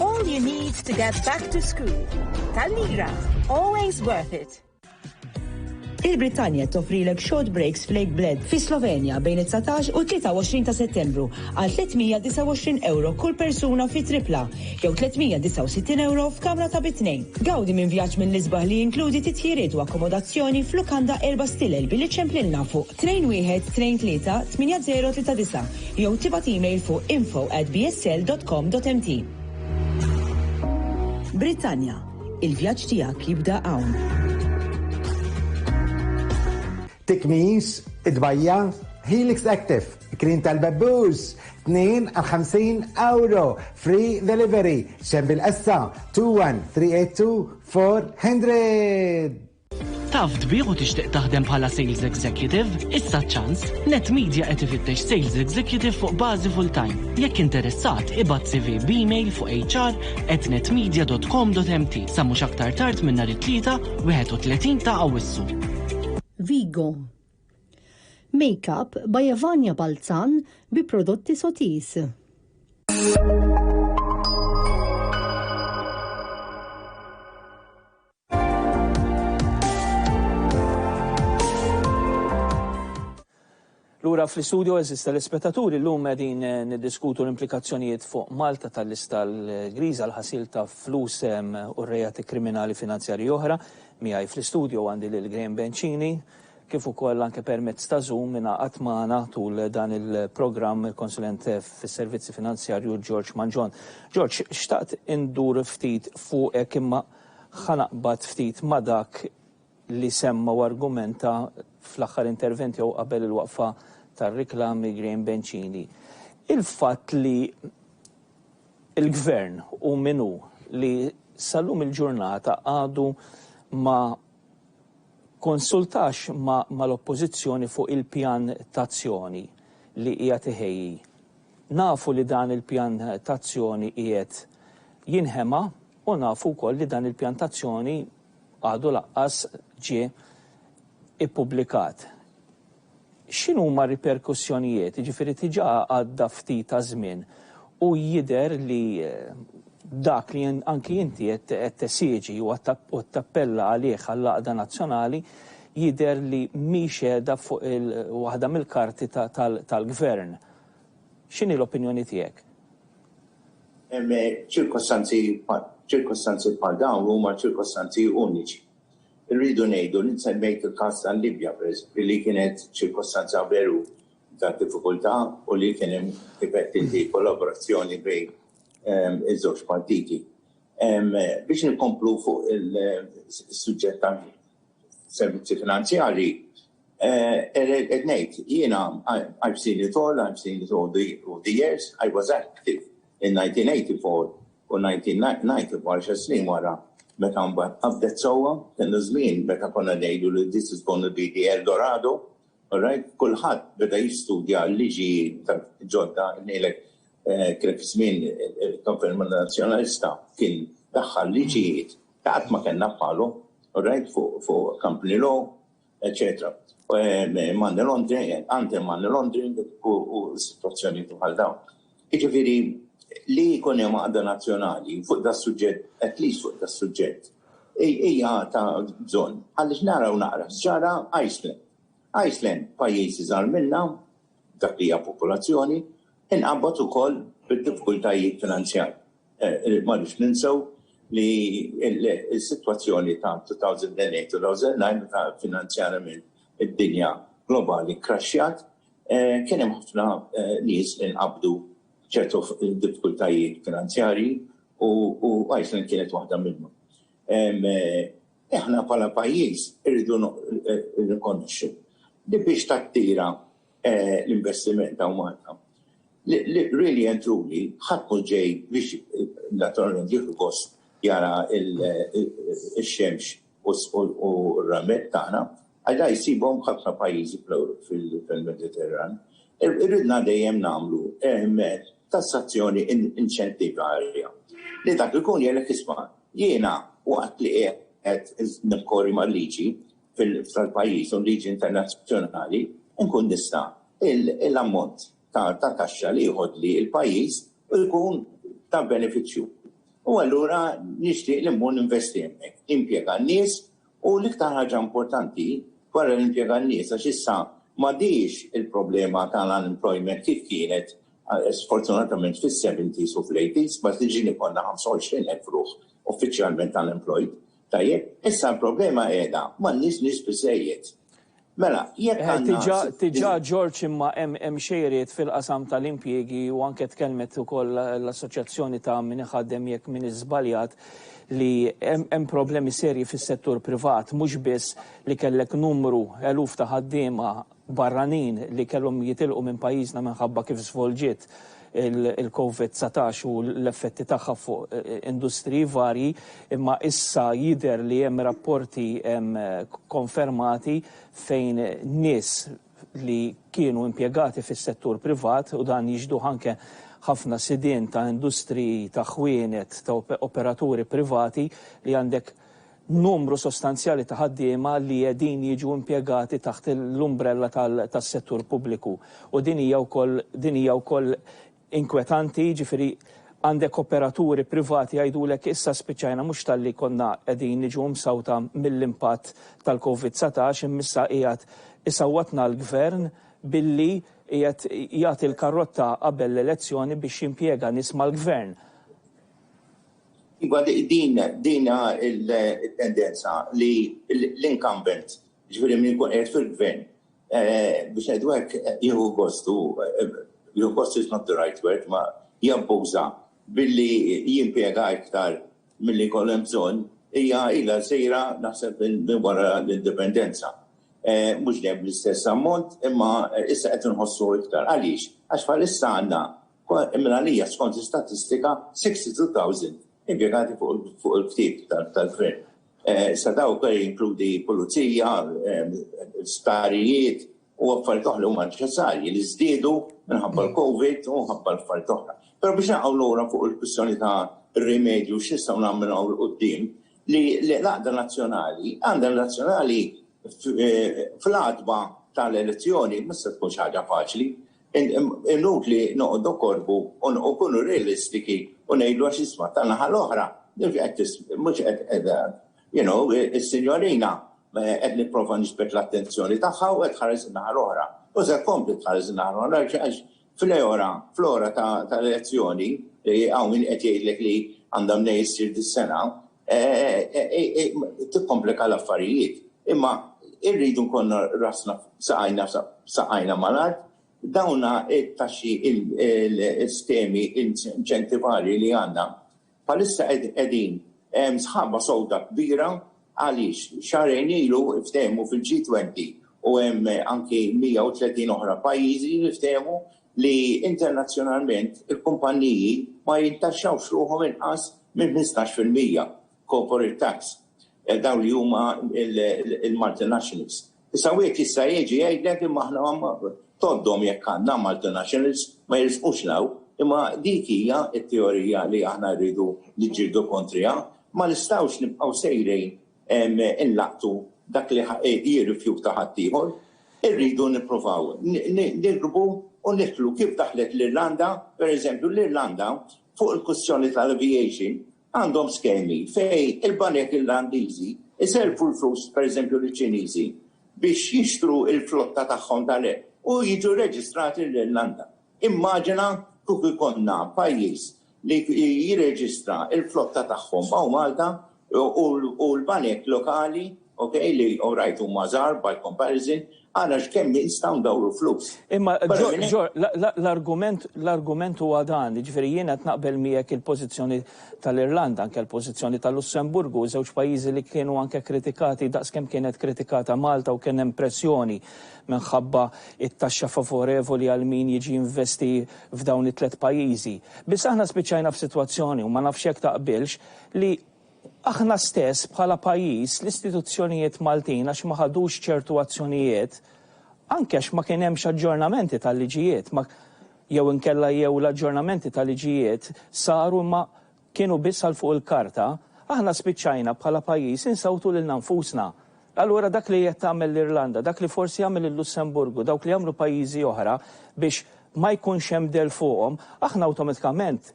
All you need to get back to school. Tal-lira, always worth it. Il-Britannia toffrilek short breaks flake bled fi Slovenja bejn 19 u 23 ta' settembru għal 329 euro kull persuna fi tripla jew 369 euro f'kamra ta' bitnejn. Gawdi minn vjaġġ mill-isbaħ li jinkludi titjiriet u akkomodazzjoni f'lukanda erba stilel billi ċemplilna fuq Train wieħed Train tlieta tmienja żero tlieta disa' jew tibgħat email fuq info at bsl dot com dot mt. Brittanja, Il-vjaġġ tiegħek jibda hawn! Tikmix, It-tbajja', Helix Active, Kliem tal-Bebbux, tnejn għal ħamsin ewro, free delivery, Xembil Qessa, 21382 400. Taf tbigħ u tixtieq taħdem bħala sales executive? Issa ċ-ċans! Net Media qed ifittex sales executive fuq bażi full-time. Jekk interessat, ibgħat CV b'email fuq hr@netmedia.com.mt sa mhux aktar tard minn nhar it-Tlieta, 31 ta' Awwissu. Vigo. Makeup by Evania Balzan bi prodotti Sotis. Lura fl-istudio eżis tal-ispettaturi l-lum għedin eh, niddiskutu l-implikazzjonijiet fuq Malta tal-lista l-griża l-ħasil ta' flus u rejati kriminali finanzjari oħra. Miħaj fl-istudio għandi l Graham Bencini kif ukoll anke permezz ta' Zoom minna għatmana tul dan il-programm il-konsulent fis-servizzi finanzjarju George Manġon. George, xtaqt indur ftit fuq imma Ħa naqbad ftit ma' dak li semma u argumenta fl-aħħar intervent jew qabel il-waqfa tar-riklami Graham Bencini. Il-fatt li l-Gvern hu min hu, li sal-lum il-ġurnata għadu ma kkonsultax mal-Oppożizzjoni fuq il-pjan t'azzjoni li qiegħed iħejji. Nafu li dan il-pjan t'azzjoni qiegħed jinħema U nafu wkoll li dan il-pjan t'azzjoni għadu lanqas ġie ippubblikat. X'inhuma r-riperkussjonijiet? Jiġifieri diġà għadda ftit taż-żmien u jidher li dak li anki inti qed tesiġi u qed tappella għalih għall-għaqda nazzjonali jidher li mhix qiegħda fuq waħda mill-karti tal-Gvern. X'inhi l-opinjoni tiegħek? Ċirkostanzi ċirkostanzi bħal dawn huma ċirkostanzi uniċi. Irridu ngħidu li nsemmejt il-każ tal-Libja pereżempju li kienet ċirkostanza veru ta' diffikultà u li kien hemm kif qed inti kollaborazzjoni bejn ehm, iż-żewġ partiti. Ehm, biex nkomplu fuq il-suġġett tal-servizzi finanzjarji, Qed ngħid, jiena I've seen it all, I've seen it all through the years, I was active in 1984 u 1990 u għaxar snin wara meta mbagħad qabdet sewwa, kien iż-żmien meta konna ngħidu li this is gonna be the El Dorado, all right? Kulħadd beda jistudja l-liġijiet ġodda, ngħidlek kienet iż-żmien il-Konferma Nazzjonalista kien daħħal liġijiet li qatt ma kellna bħalhom, all right, fuq company law, eccetera. Eh, money laundering, eh, anti money laundering u situazzjoni bħal dawn. Iġifiri, li jkun hemm għadda nazzjonali fuq da suġġett, at least fuq da suġġett, hija ta' bżonn. Għaliex naraw naqra, ġara Iceland. Iceland pajjiż iżgħar minna, dak li hija popolazzjoni, inqabad ukoll bid-diffikultajiet finanzjarji. Ma rridx ninsew li s-sitwazzjoni ta' 2008-2009 meta finanzjarjament id-dinja globali kkraxxjat, kien hemm ħafna nies li nqabdu b'ċertu diffikultajiet finanzjarji u Iceland kienet waħda minnhom. Aħna bħala pajjiż irridu nirrikonoxxu li biex tattira Eh, l-investiment ta' Malta. Really and truly, ħadd mhux ġej biex eh, naturalment jieħu gost jara il-xemx eh, u r-ramet tagħna, għadha jsibhom ħafna pajjiżi fil-Mediterran. Irridna dejjem nagħmlu ehm, tassazzjoni inċentivarja. Li dak ikun jgħalek isma' jiena waqt li qed nikkorri mal-liġi fil-pajjiż u l-liġi internazzjonali, inkun nista' l-ammont ta' taxxa li jieħodli l-pajjiż jkun ta' benefiċċju. U allura nixtieq li mmur ninvesti hemmhekk, nimpjega n-nies u l-iktar ħaġa importanti wara li nimpjega n-nies għax issa m'għadhiex il-problema tal-unemployment kif kienet sfortunatament fis-seventies u fl-eighties, meta tiġini konna 25,000 ruħ uffiċjalment unemployed. Tajjeb, issa l-problema qiegħda m'għandniex nies biżżejjed. Mela, jekk għandna. Diġà George imma hemm xejriet fil-qasam tal-impjiegi u anke tkellmet ukoll l-assoċjazzjoni ta' min iħaddem jekk m'iniex żbaljat li hemm problemi serji fis-settur privat mhux biss li kellek numru eluf ta' ħaddiema barranin li kellhom jitilqu minn pajjiżna minħabba kif żvolġiet il-Covid 19 u l-effetti tagħha fuq industriji varji, imma issa jidher li hemm rapporti konfermati fejn nies li kienu impjegati fis-settur privat, u dan jixduh anke ħafna sidien ta' industriji ta' ħwienet, ta' operaturi privati li għandek numru sostanzjali ta' ħaddiema li qegħdin jiġu impjegati taħt l-umbrella tas-settur pubbliku u din hija wkoll din hija wkoll inkwetanti, jiġifieri għandek operaturi privati jgħidulek issa spiċċajna mhux talli konna qegħdin niġu msawta mill-impatt tal-Covid dsatax imma issa qiegħed isawwatna l-Gvern billi qiegħed jagħti l-karrotta qabel l-elezzjoni biex jimpjega nies mal-Gvern. Iva, din hi t-tendenza li l-incumbent, jiġifieri min ikun qiegħed fil-Gvern, biex ngħidu hekk, jieħu gost u, jieħu gost is not the right word, imma jabbuża billi jimpjega iktar milli jkollu hemm bżonn, hija ilha sejra naħseb minn wara l-Indipendenza. Mhux dejjem bl-istess ammont, imma issa qed inħossuh iktar. Għaliex? Għax bħalissa għandna Minn għalija, skont l-istatistika, 62,000 impjegati fuq il-ktieb tal-Gvern. Sa dawk jinkludi pulizija, sptarijiet u affarijiet oħra li huma neċessarji li żdiedu minħabba l-Covid u minħabba l-affarijiet oħra. Però biex naqgħu lura fuq il-kwistjoni ta' rimedju x'nistgħu nagħmlu minn hawn 'l quddiem, li l-għaqda nazzjonali, għaqda nazzjonali fl-għatba tal-elezzjoni ma se tkun xi ħaġa faċli. Inutli noqogħdu korrbu u nkunu realistiki u ngħidu għax isma' tan-naħa l-oħra, mhux qed qiegħda, you know, is-sinjorina qed nipprova niġbed l-attenzjoni tagħha u qed tħares in-naħa l-oħra. U se tkompli tħares in-naħa l-oħra għax fl-ora, fl-ora tal-elezzjoni, hawn min qed jgħidlek li għandha mnejn issir dis-sena, tikkomplika l-affarijiet. Imma irridu nkunu rasna saqajna saqajna mal-art, dawna t-taxxi l-iskemi inċentivarji li għandna bħalissa qegħdin hemm sħaba sewda kbira għaliex xahrejn ilu ftehmu fil-G20 u hemm anki 130 oħra pajjiżi li ftehmu li internazzjonalment il-kumpanniji ma jintaxxawx ruħhom inqas minn ħmistax fil-mija corporate tax, dawn li huma l-multinationals. Issa wieħed jista' jiġi jgħidlek imma aħna tgħoddhom jekk għandna multinationals ma jirsqux 'l hawn, imma dik hija t-teorija li aħna rridu niġġieldu kontriha. Ma nistgħux nibqgħu sejrin inlaqtu dak li jirrifjuta ħaddieħor, irridu nippruvaw nirbu u nidħlu kif daħlet l-Irlanda, pereżempju l-Irlanda fuq il-kwistjoni tal-aviation għandhom skemi fejn il-banek Irlandiżi jsellfu l-flus pereżempju liċ-Ċiniżi biex jixtru l-flotta tagħhom ta' u jiġu reġistrati l-Irlanda. Immaġina kieku jkollna pajjiż li jirreġistra l-flotta tagħhom hawn Malta u l-banek lokali, okej, li orajt huma żgħar by comparison, ara x'kemm nistgħu ndawru flus. Imma l-argument huwa dan, jiġifieri jien qed naqbel miegħek il-pożizzjoni tal-Irlanda, anke l-pożizzjoni tal-Lussemburgu, żewġ pajjiżi li kienu anke kritikati daqs kemm kienet kritikata Malta u kien hemm pressjoni minħabba t-taxxa favorevoli għal min jiġi jinvesti f'dawn it-tliet pajjiżi. Biss aħna spiċċajna f'sitwazzjoni, u ma nafx jekk taqbilx, li aħna stess bħala pajjiż, l-istituzzjonijiet Maltin għax ma ħadux ċertu azzjonijiet, anke għax ma kien hemmx aġġornamenti tal-liġijiet, ma jew inkella jew l-aġġornamenti tal-liġijiet saru imma kienu biss għal fuq il-karta, aħna spiċċajna bħala pajjiż insewtu lilna nfusna. Allura dak li qed tagħmel l-Irlanda, dak li forsi jagħmel il-Lussemburgu, dawk li jagħmlu pajjiżi oħra biex ma jkunx hemm dell fuqhom, aħna awtomatikament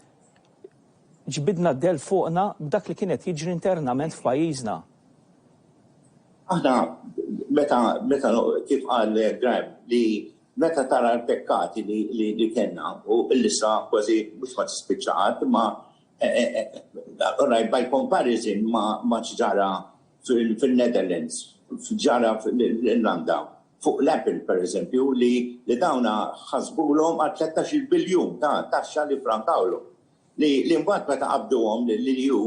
ġbidna d-dell fuqna b'dak li kien qed jiġri internament f'pajjiżna. Aħna meta meta kif qal Graham li Meta tara l-pekkati li kellna, u l-lista kważi mhux ma tispiċċa qatt, imma orajt by comparison ma' x'ġara fin-Netherlands, x'ġara fl-Irlanda, fuq l-Apple pereżempju, li dawn ħasbulhom għal tlettax-il biljun ta' taxxa li ffrankawlhom. li mbagħad meta qabduhom lill-EU,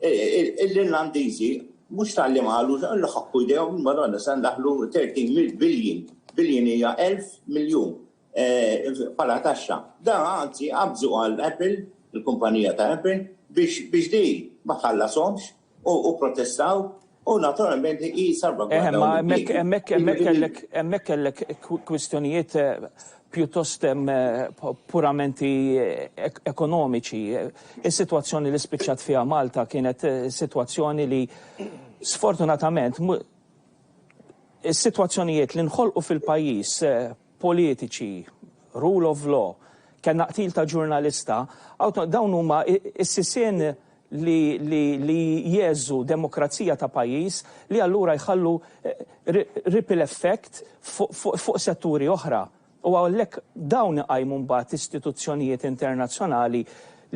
l-Irlandiżi mhux talli ma qalux, illi ħakku jdejhom, il-Madonna, se ndaħħlu 13 mil billion, billion hija elf miljun, bħala taxxa. Da anzi qabżu għal Apple, il-kumpanija ta' Apple, biex din ma tħallashomx. u protestaw u naturalment hi salvagwarda. Eh, ma hemmhekk hemmhekk hemmhekk kellek hemmhekk kellek kwistjonijiet eh, pjuttost eh, puramenti eh, ekonomiċi. Is-sitwazzjoni li spiċċat fiha Malta kienet sitwazzjoni li sfortunatament is-sitwazzjonijiet li nħolqu fil-pajjiż politiċi, rule of law, kellna qtil ta' ġurnalista, dawn huma s-sisien li jgħeżżu demokrazija ta' pajjiż li allura jħallu ripple effect fuq setturi oħra. U għalhekk dawn iqajmu mbagħad istituzzjonijiet internazzjonali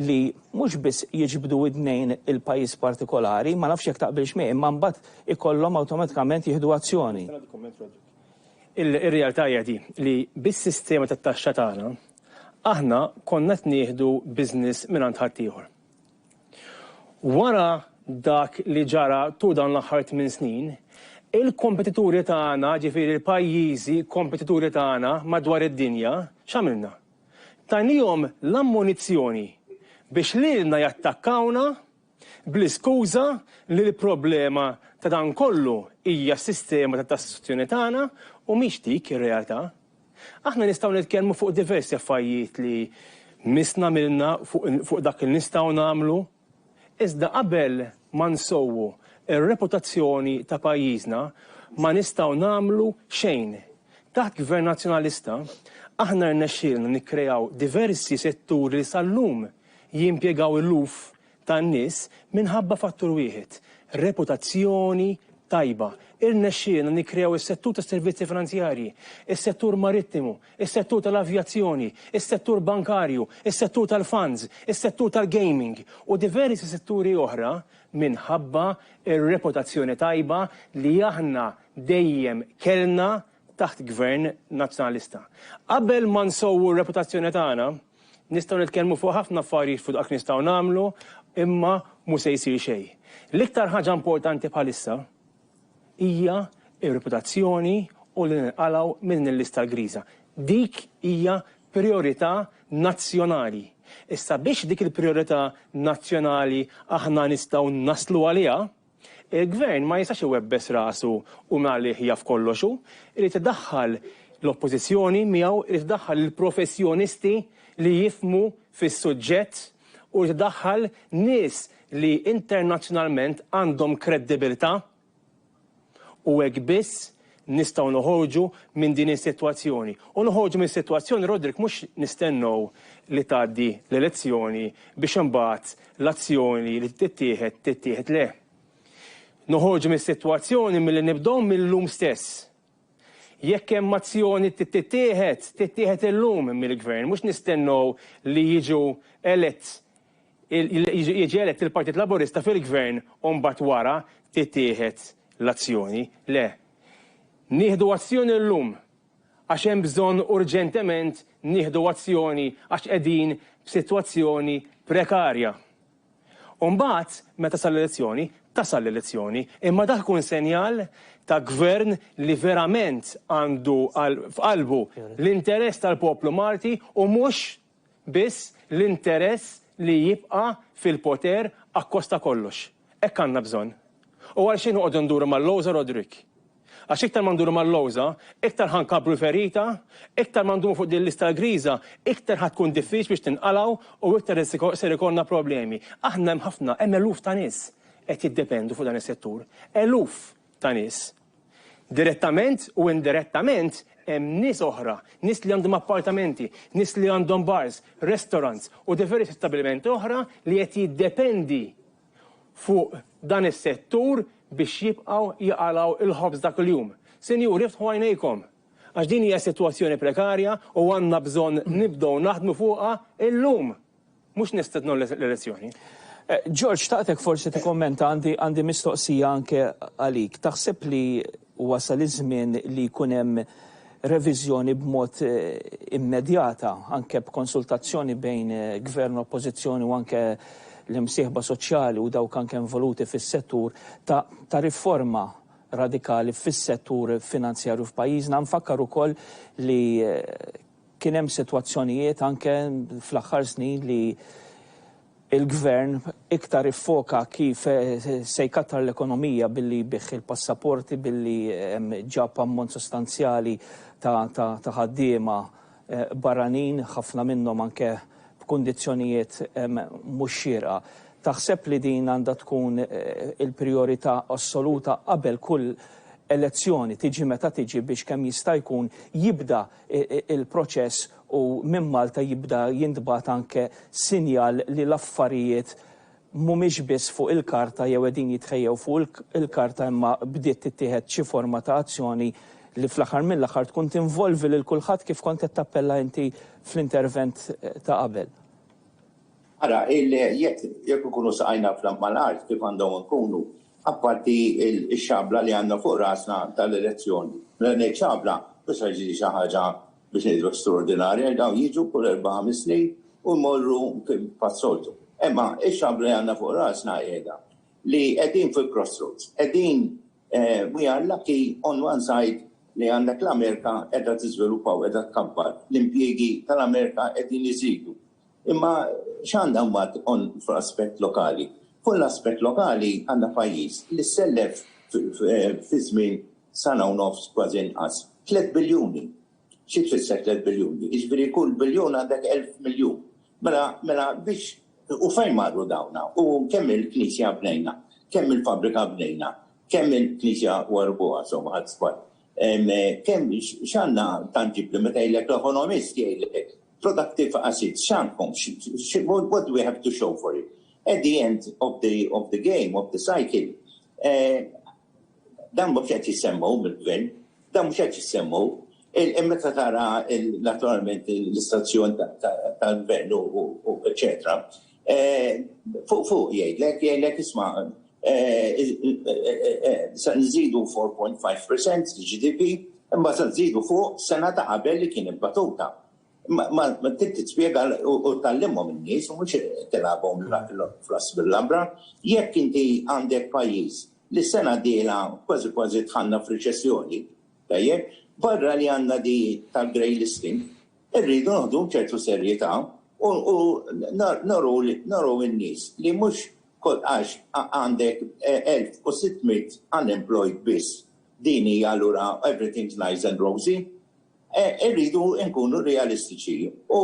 li mhux biss jiġbdu widnejn il-pajjiż partikolari, ma nafx jekk taqbilx miegħi, imma mbagħad ikollhom awtomatikament jieħdu azzjoni. Ir-realtà hija di li bis-sistema tat-taxxa tagħna, aħna konna qed nieħdu business mingħand ħaddieħor. Wara dak li ġara tul dawn l-aħħar tmien snin, il-kompetituri tagħna, ġifieri l-pajjiżi kompetituri tagħna madwar id-dinja, x'għamilna? Tajniehom l-ammunizzjoni biex lilna jattakkawna bl-iskuża li l-problema ta' dan kollu hija s-sistema ta' tassazzjoni tagħna u mhix dik ir-realtà. Aħna nistgħu nitkellmu fuq diversi affarjiet li missna għamilna fuq dak li nistgħu nagħmlu, iżda qabel ma nsewwu r-reputazzjoni ta' pajjiżna ma nistgħu nagħmlu xejn. Taħt Gvern Nazzjonalista aħna rnexxielna nikkreaw diversi setturi li sal-lum Jimpjegaw eluf ta' nies minħabba fattur wieħed, reputazzjoni tajba. Irnexxielna nikkreaw is-settur tas-servizzi finanzjarji, is-settur marittimu, is-settur tal-avjazzjoni, is-settur bankarju, is-settur tal-funds, is-settur tal-gaming u diversi setturi oħra minħabba r-reputazzjoni tajba li aħna dejjem kellna taħt Gvern Nazzjonalista. Qabel ma nsewwu r-reputazzjoni tagħna, Nistgħu nitkellmu fuq ħafna affarijiet fuq dak li nistgħu nagħmlu, imma mhu se jsir xejn. L-iktar ħaġa importanti bħalissa hija r-reputazzjoni u li ninqalgħu minn din il-lista griża. Dik hija prijorità nazzjonali. Issa biex dik il-prijorità nazzjonali aħna nistgħu naslu għaliha, Il-Gvern ma jistax iwebbes rasu u minn għalih jaf kollox hu. Irid idaħħal l-Oppożizzjoni miegħu, irid idaħħal lill-professjonisti li jifhmu fis-suġġett u jrid idaħħal nies li internazzjonalment għandhom kreddibilità u hekk biss nistgħu noħorġu minn din is-sitwazzjoni. U noħorġu mis-sitwazzjoni, Roderick, mhux nistennew li tgħaddi l-elezzjoni biex imbagħad l-azzjoni li tittieħed tittieħed, le. Noħorġu mis-sitwazzjoni milli nibdew mil-lum stess. Jekk hemm azzjoni trid tittieħed, tittieħed illum mill-Gvern, mhux nistennew li jiġu elett Jiġi elett il-Partit Laburista fil-Gvern u mbagħad wara tittieħed l-azzjoni. Le. Nieħdu azzjoni llum għax hemm bżonn urġentement nieħdu azzjoni għax qegħdin f'sitwazzjoni prekarja. U mbagħad, meta sal l-elezzjoni, tasal l-elezzjoni, imma dak ikun senjal ta' Gvern li verament għandu f'qalbu l-interess tal-poplu Malti u mhux biss l-interess li jibqa' fil-poter akkosta kollox. Hekk għandna bżonn. U għal xi noqogħdu nduru mal-lowża Roderick? Għax iktar ma nduru mal-lowża, iktar ħa nkabbru l-ferita, iktar ma ndumu fuq din l-lista griża, iktar ħa tkun diffiċli biex tinqalgħu u iktar ser ikollna problemi. Aħna hemm ħafna, hemm eluf ta' nies qed jiddependu fuq dan is-settur. Eluf! ta' nies. Direttament u indirettament hemm nies oħra, nies li għandhom appartamenti, nies li għandhom bars, restaurants u diversi stabbilimenti oħra li qed jiddependi fuq dan is-settur biex jibqgħu jaqalgħu l-ħobż ta' kuljum. Sinjuri iftħu għajnejkom għax din hija sitwazzjoni prekarja u għandna bżonn nibdew naħdmu fuqha illum. Mhux nistednu l-elezzjoni. George, xtaqtek forsi tikkommenta għandi għandi mistoqsija anke għalik. Taħseb li wasal iż-żmien li jkun hemm reviżjoni b'mod immedjata anke b'konsultazzjoni bejn Gvern u Oppożizzjoni u anke l-imsieħba soċjali u dawk anke involuti fis-settur ta' ta' riforma radikali fis-settur finanzjarju f'pajjiżna? Nfakkar ukoll li Kien hemm sitwazzjonijiet anke fl-aħħar snin li l-Gvern iktar iffoka kif se jkattar l-ekonomija billi jbigħ il-passaporti, billi ġab ammont sostanzjali ta' ħaddiema barranin, ħafna minnhom anke b'kundizzjonijiet mhux xierqa. Taħseb li din għandha tkun il-prijorità assoluta qabel kull elezzjoni, tiġi meta tiġi, biex kemm jista' jkun jibda il-proċess u minn Malta jibda jintbagħat anke sinjal li l-affarijiet mhumiex biss fuq il-karta jew qegħdin jitħejjew fuq il-karta imma bdiet tittieħed xi forma ta' azzjoni li fl-aħħar mill-aħħar tkun tinvolvi lil kulħadd kif kont qed tappella inti fl-intervent ta' qabel. Ara, jekk ikunu saqajna mal-art kif għandhom ikunu, apparti x-xabla li għandna fuq rasna tal-elezzjoni, mela ngħid xabla, mhux se tiġi xi ħaġa biex ngħidu straordinarja għax dawn jiġu kull erba' ħames snin u jmorru pas-soltu. Imma x-xabla li għandna fuq rasna qiegħda li qegħdin fil-crossroads, qegħdin we are lucky on one side li għandek l-Amerika qiegħda tiżviluppa u qiegħda tkabbar, l-impjiegi tal-Amerika qegħdin iżidu. Imma x'għandha mbagħad tqomm fl-aspett lokali? Fuq l-aspett lokali għandna pajjiż li sellef fi żmien sena u nofs kważi inqas tliet biljuni. Xi tfisser tliet biljuni? Jiġifieri kull biljun għandek elf miljun. Mela, mela biex u fejn marru dawn? U kemm il-knisja bnejna? Kemm il-fabbrika bnejna? Kemm il-knisja u erbuha, somma ħadt żball. Kemm x'għandna tanġibbli meta jgħidlek l-ekonomist jgħidlek productive assets x'għandkom? What do we have to show for it? At the end of the of the game, of the cycle, dan mhux qed jissemmew mill-gvern, dan mhux qed jissemmew. Meta tara naturalment l-istazzjon tal-gvern u eċetera, Fuq fuq jgħidlek, jgħidlek isma' se nżidu 4.5% GDP, imma se nżidu fuq sena ta' qabel li kien imbatuta. Ma trid tispjega u tgħallimhom in-nies u mhux tilgħabhom fl-għasb il-labra. Jekk inti għandek pajjiż li s-sena d-dieħla kważi kważi dħalna f'riċessjoni, tajjeb, barra li għandna di tal-grey listing, Irridu nieħdu ċertu serjetà u nuru lin-nies li mhux għax għandek 1,600 unemployed biss din hija allura everything's nice and rosy. Irridu nkunu realistiċi u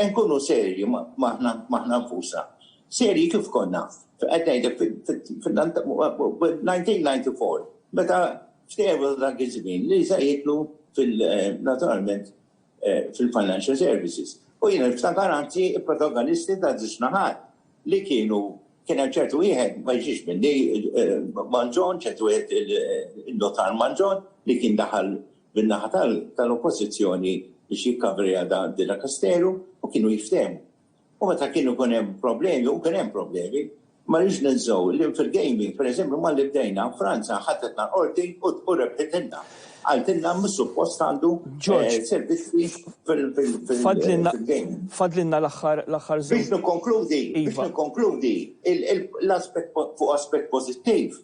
nkunu serji maħna nfusna. Serji kif konna, qed ngħidlek fil-1994 meta ftehmu dak iż-żmien li se jidħlu naturalment eh, fil-financial services. U jien niftakar anzi protagonisti ta' żewġ naħat li kienu kien hemm ċertu wieħed ma jiġix minni eh, Manġon, ċertu wieħed il-notar Manġon li kien daħal bin-naħa tal-oppożizzjoni biex jikkavri għada dina Kasteru u kienu jiftehmu. U meta kienu jkun hemm problemi, u kien hemm problemi, ma rridx ninsew li fil-gaming, pereżempju, malli bdejna, Franza ħadetna l-Qorti u rebħitilna. Qaltilna mhux suppost għandu servizzi fil-gaming. Fadlilna l-aħħar żewġ. Biex nikkonkludi, biex nikkonkludi, l-aspett fuq aspett pożittiv,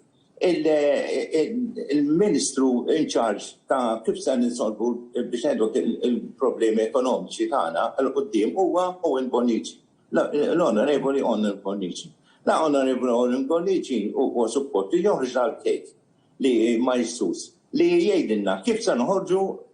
il-Ministru in charge ta' kif se ninsolvu biex ngħidu il-problemi ekonomiċi tagħna għal quddiem huwa Owen Bonnici. L-Onorevoli Owen Bonnici. La Onorevoli Owen Bonnici huwa support li joħroġ dal-kejk li ma jissus li jgħidilna kif se noħorġu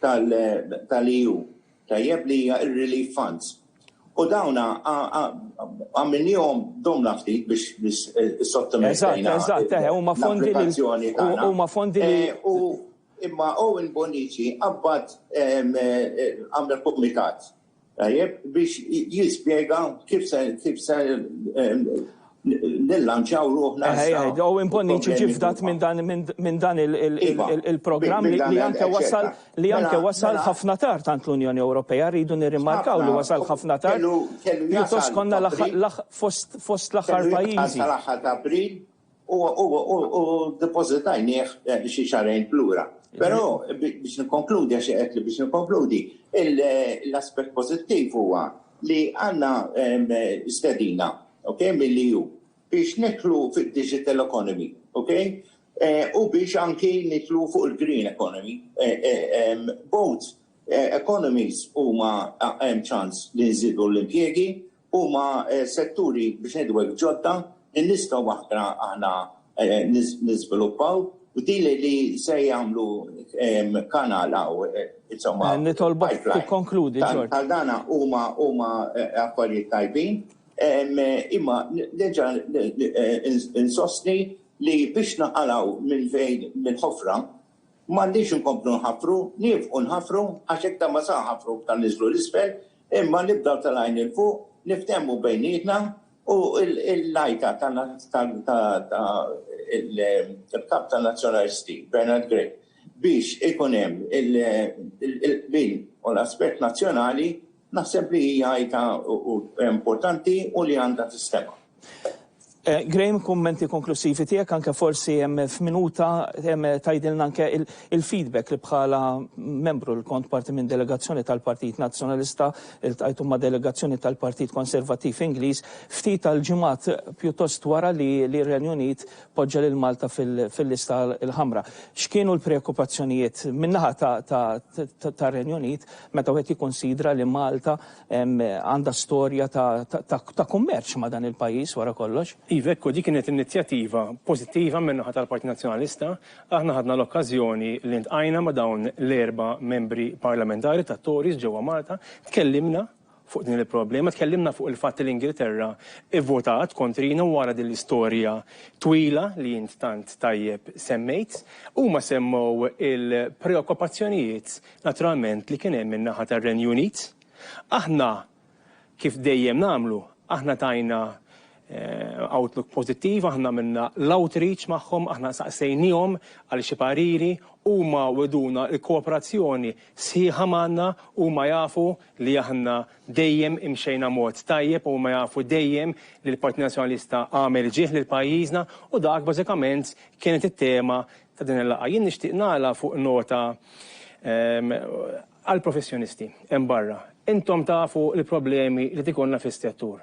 tal-EU, tajjeb, li hija r-relief funds. U dawn għamilniehom domna ftit biex issottomettejna. Eżatt, eżatt, huma fondi li huma fondi li. Imma Owen Bonnici qabbad għamel kumitat. Tajjeb, biex jispjega kif se kif se nillanċaw ruħna. U imponni ċifdat minn dan iva. il-programm li anke wasal li mela, anke wasal mela. ħafna tard tant l-Unjoni Ewropea rridu nirrimarkaw li wasal ħafna tard. Pjuttost konna fost l-aħħar pajjiżi. Tal-aħħar ta' April u depożitajnieh xi xahrejn lura. Però biex nikkonkludi, għax qedtli biex nikkonkludi, l-aspett pożittiv huwa li għandna stedina mill-EU biex nidħlu fid-digital economy u biex anki nidħlu fuq il-green economy. Both economies huma hemm ċans li nżidu l-impjiegi Huma setturi biex ngħidu hekk ġodda li nistgħu aħna aħna niżviluppaw u din li se jagħmlu kanal hawn insomma. Nitolbok tikkonkludi George. Bħal dan huma huma affarijiet tajbin imma nerġa' insostni li biex naqalgħu minn fejn mill-ħofra m'għandniex inkomplu nħaffru, niefqu nħaffru għax iktar ma sa nħaffru iktar ninżlu 'l isfel, Imma nibdew tal-għajn 'il fuq, niftehmu bejnietna u l-għajta tal-Kap tan-Nazzjonalisti, Bernard Grech, biex ikun hemm il-qbil u l-aspett nazzjonali naħseb li hija għajta importanti u li għandha tistema'. Eh, Graham, kummenti konklusivi tiegħek anke forsi hemm f'minuta hemm tajdilna anke il-feedback li bħala membru li kont parti minn delegazzjoni tal-Partit Nazzjonalista il-tajtu ma' delegazzjoni tal-Partit Konservattiv Ingliż ftit tal-ġimgħat pjuttost wara li li Renju Unit poġġa lil Malta fil-lista l-ħamra. X'kienu l-preokkupazzjonijiet minnaħa ta' Renju Unit meta wieħed jikkunsidra li Malta Għandha storja ta' kummerċ ma' dan il-pajjiż wara kollox. Iva, hekk hu, dik kienet inizjattiva pożittiva min-naħa tal-Partit Nazzjonalista. Aħna ħadna l-okkażjoni li ltqajna ma' dawn l-erba' membri parlamentari tat-Tories ġewwa Malta, tkellimna fuq din il-problema, tkellimna fuq il-fatt li l-Ingilterra vvotat kontrina wara din l-istorja twila li int tant tajjeb semmejt. Huma semmew il-preokkupazzjonijiet naturalment, li kien hemm min-naħa tar-Renju Unit. Aħna, kif dejjem nagħmlu, aħna tajna outlook pożittiv, aħna għamilna l-outreach magħhom, aħna saqsejniehom għal xi pariri, huma wegħduna l-kooperazzjoni sħiħa magħna, huma jafu li aħna dejjem imxejna mod tajjeb, huma jafu dejjem li l-Partit Nazzjonalista għamel ġieh lil pajjiżna u dak bażikament kienet it-tema ta' din il-laqgħa. Jien nixtieq nagħlaq fuq nota għall-professjonisti hemm barra. Intom tafu l-problemi li qed ikollna fis-settur.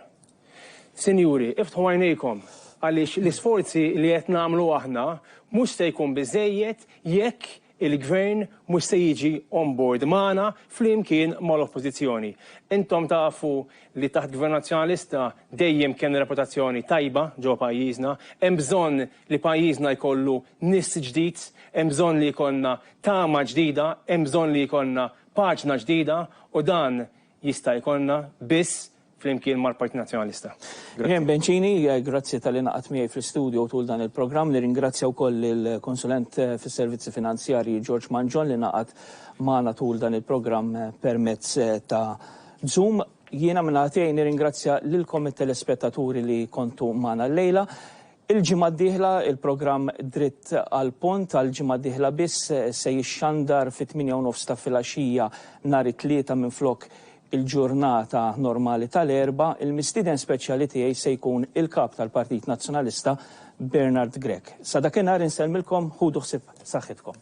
Sinjuri, iftħu għajnejkom għaliex l-isforzi li qed nagħmlu aħna mhux se jkun biżżejjed jekk il-Gvern mhux se jiġi on board magħna flimkien mal-Oppożizzjoni. Intom tafu li taħt Gvern Nazzjonalista dejjem kellna reputazzjoni tajba ġewwa pajjiżna. Hemm bżonn li pajjiżna jkollu nies ġdid, hemm bżonn li jkollna tama ġdida, hemm bżonn li jkollna paġna ġdida u dan jista' jkollna biss flimkien mal-Partit Nazzjonalista. Jane Bencini, grazzi talli ingħaqadt miegħi fl-istudio tul dan il-programm. Nirringrazzja wkoll lill-Konsulent fis-Servizzi Finanzjarji George Mangion li ingħaqad magħna tul dan il-programm permezz ta' Zoom. Jiena min-naħa tiegħi nirringrazzja lilkom it-telespettaturi li kontu magħna llejla. Il-ġimgħa d-dieħla, il-programm Dritt għall-Punt għall-ġimgħa d-dieħla biss se jixxandar fit-tmienja u nofs ta' filgħaxija nhar it-Tlieta minflok il-ġurnata normali tal-Erbgħa. Il-mistieden speċjali tiegħi se jkun il-Kap tal-Partit Nazzjonalista Bernard Grech. Sa dakinhar insellmilkom, ħudu ħsieb saħħitkom.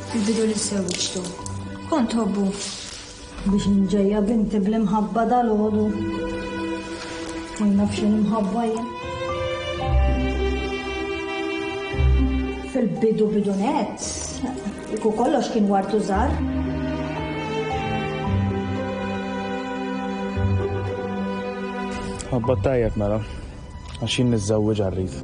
Fil-bidu li żżewġtu, kont tħobbu? Biex nġejja binti bl-imħabba dal-għodu. U jnaf xi imħabba jien. Fil-bidu bidu net, iku kollox kien wartu żgħar. Ħabba tajjeb mela. Għax jien niżżewwiġha rrid.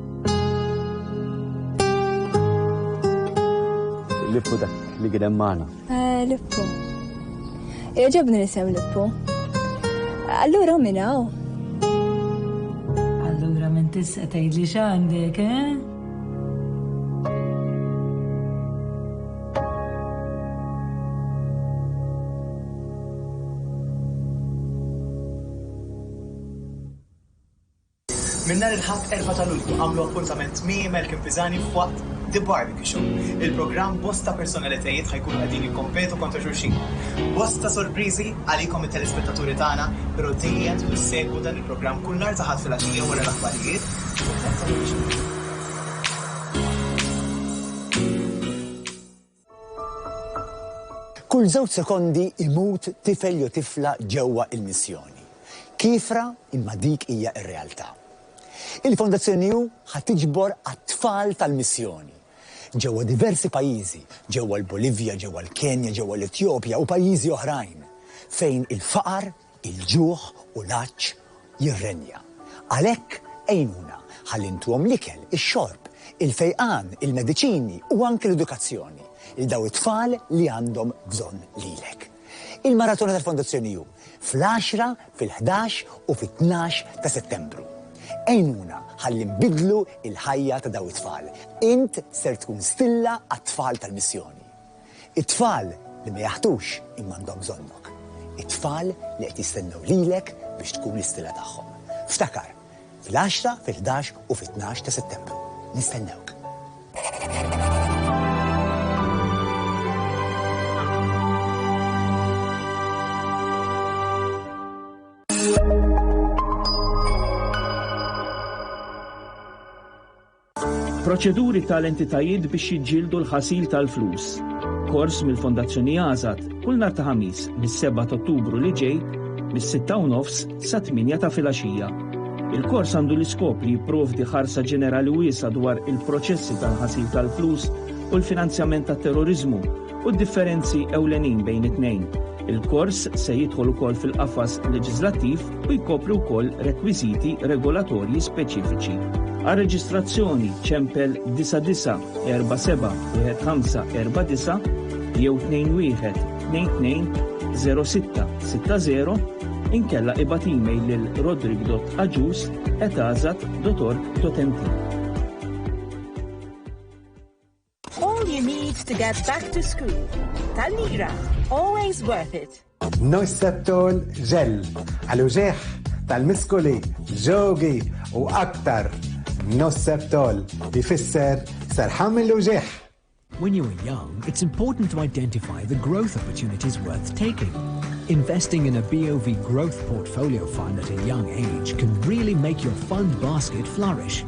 Lippu dak li kien hemm magħna. Eh, Lippu. Jogħġobni l-isem Lippu. Allura minn hawn. Allura minn tista' tgħidli x'għandek, eh? Minn nhar il-Ħadd 4 ta' Lulju għamlu appuntament Mie Malcolm Pisani f'waqt The Barbecue Show. Il-programm bosta personalitajiet ħa jkunu qegħdin jikkompetu kontra xulxin. Bosta sorpriżi għalikom it-telespettaturi tagħna, pero dejjem tistgħu ssegwu dan il-programm kull nhar ta' Ħadd filgħaxija wara l-aħbarijiet u f'nofs il-lejl. Kull żewġ sekondi jmut tifel jew tifla ġewwa il-missjoni. Kiefra imma dik hija r-realtà. Il-Fondazzjoni New ħa tiġbor għat-tfal tal-missjoni. Ġewwa diversi pajjiżi, ġewwa l-Bolivja, ġewwa l-Kenja, ġewwa l-Etjopja u pajjiżi oħrajn, fejn il-faqar, Il-ġuħ u l-għatx jirrenja. Għalhekk għinuna ħalli ntuhom l-ikel, ix-xorb, il-fejqan, il-mediċini u anki l-edukazzjoni lil dawn it-tfal li għandhom bżonn lilek. Il-Maratona tal-Fondazzjoni hu fl-għaxra, fil-ħdax u fit-tnax ta' Settembru. Għinuna ħalli nbiddlu l-ħajja ta' dawn it-tfal. Int ser tkun stilla għat-tfal tal-missjoni. It-tfal li ma jaħtux imma għandhom bżonnok. It-tfal li qed jistennew lilek biex tkun l-istila tagħhom. Ftakar, fil-għaxra, fil-ħdax u fit-tnax ta' Settembru. Nistennewk. Proċeduri tal-entitajiet biex jiġġieldu l-ħasil tal-flus. Kors mill-Fondazzjoni Azad kull nhar ta' Ħamis mis-7 t'Ottubru li ġej mis-sitta u nofs sa tmienja ta' filgħaxija. Il-kors għandu l-iskop li jipprovdi ħarsa ġenerali wiesgħa dwar il-proċessi tal-ħasil tal-flus u l-finanzjament tat-terroriżmu u d-differenzi ewlenin bejn it-tnejn. Il-kors se jidħol ukoll fil-qafas leġiżlattiv u jkopri wkoll rekwiżiti regolatorji speċifiċi. Għar-reġistrazzjoni ċempel 99471549 jew 21220660 inkella ibgħat email lil rodrick.agius@azat.org.mt. All you need to get back to school. Tal-lira, always worth it. Noisseptol ġel, għal-uġeħ tal-miskuli, ġogi u aktar. Noisseptol jfisser serħam il-uġeħ. When you are young, it's important to identify the growth opportunities worth taking. Investing in a BOV growth portfolio fund at a young age can really make your fund basket flourish.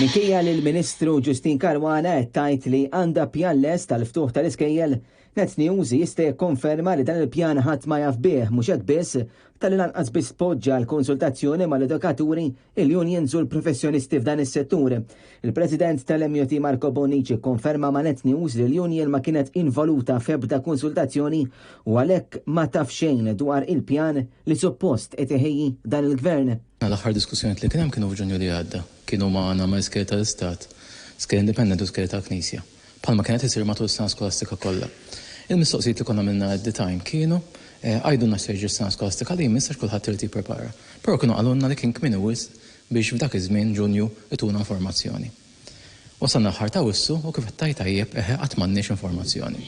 Minkejja li l-Ministru Ġustin Karwana qed tgħid li għandha pjan les tal-ftuħ tal-iskejjel, Net News jista' jikkonferma li dan il-pjan ħadd ma jaf bih mhux hekk biss tal-lanqas biss poġġa l-konsultazzjoni mal-edukaturi il-unions u l-professjonisti f'dan is-settur. Il-President tal-MJT Marco Bonnici kkonferma ma' Net News li l-union ma kienet involuta f'ebda konsultazzjoni u għalhekk ma taf xejn dwar il-pjan li suppost qed iħejji dan il-Gvern. L-aħħar diskussjonijiet li kien hemm kienu f'Ġunju li għadda. Kienu ma' Anna Maiske tal-Istat, Ske Independent u Ske tal-Knisja. bħalma kienet isir matul is-sena skolastika kollha. Il-mistoqsijiet li konna għamilna at the time kienu, Għidulna x'se jiġri s-sena skolastika li jmiss għax kulħadd irid jipprepara. Però kienu qalulna li kien kmieni wisq biex f'dak iż-żmien, Ġunju, ituna informazzjoni. Wasalna aħħar ta' Awwissu u kif qed tgħid tajjeb, eħe qatt m'għandniex informazzjoni.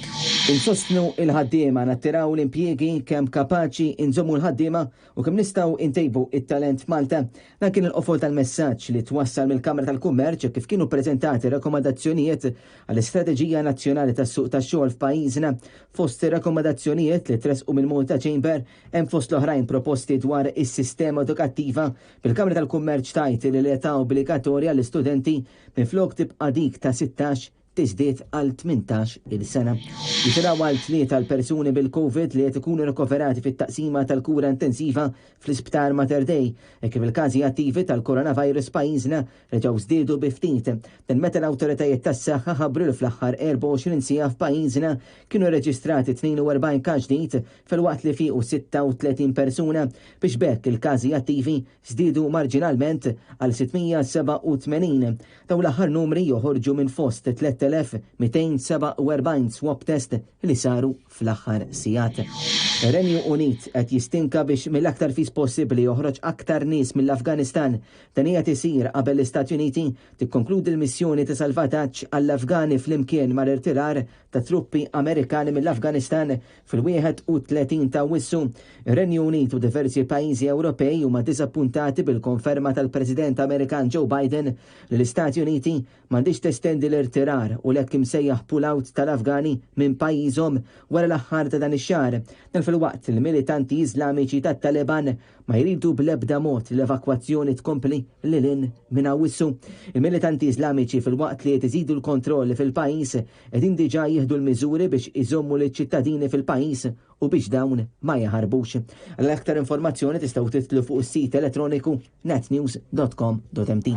Insostnu l-ħaddiema, nattiraw l-impjiegi kemm kapaċi, inżommu l-ħaddiema u kemm nistgħu intejbu it-talent f'Malta, dan kien il-qofol tal-messaġġ li twassal mill-Kamra tal-Kummerċ kif kienu ppreżentati rakkomandazzjonijiet għall-istrateġija nazzjonali tas-suq tax-xogħol f'pajjiżna. Fost ir-rakkomandazzjonijiet li tressqu mill-Malta Chamber hemm fost l-oħrajn proposti dwar is-sistema edukattiva, bil-Kamra tal-Kummerċ tgħid li l-età obbligatorja għall-istudenti minflok tibqa' dik ta' 16 tiżdied għal tmintax il sena. Jitilgħu għal tlieta l-persuni bil-Covid li qed ikunu rikoverati fit-taqsima tal-kura intensiva fl-Isptar Mater Dei, hekk kif il-każi attivi tal-coronavirus f'pajjiżna reġgħu żdiedu bi ftit. Dan meta l-awtoritajiet tas-saħħa ħabbru li fl-aħħar 24 siegħa f'pajjiżna kienu rreġistrati 42 każ ġdid filwaqt li fiequ 36 persuna biex b'hekk il-każi attivi żdiedu marġinalment għal 687. Dawn l-aħħar numri joħorġu minn fost 3,247 swab test li saru fl-aħħar sigħat. Ir-Renju Unit qed jistinka biex mill-aktar fis possibbli joħroġ aktar nies mill-Afganistan. Dan qiegħed isir qabel l-Istati Uniti tikkonkludi l-missjoni ta' salvataġġ għall-Afgani flimkien mal-irtirar tat-truppi Amerikani mill-Afganistan Fil-31 ta' Awwissu, ir-Renju Unit u diversi pajjiżi Ewropej huma diżappuntati bil-konferma tal-President Amerikan Joe Biden li l-Istati Uniti m'għandhiex testendi l-irtirar u l-hekk imsejjaħ pull-out tal-Afgani minn pajjiżhom wara l-aħħar ta' dan ix-xahar. Dan filwaqt li l-militanti Iżlamiċi tat-Taliban ma jridu bl-ebda mod li l-evakwazzjoni tkompli lil hinn minn Awwissu. Il-militanti Iżlamiċi filwaqt li qed iżidu l-kontrolli fil-pajjiż, qegħdin diġà jieħdu l-miżuri biex iżommu liċ-ċittadini fil-pajjiż u biex dawn ma jaħarbux. Għal aktar informazzjoni tistgħu tidħlu fuq is-sit elettroniku natnews.com.mt.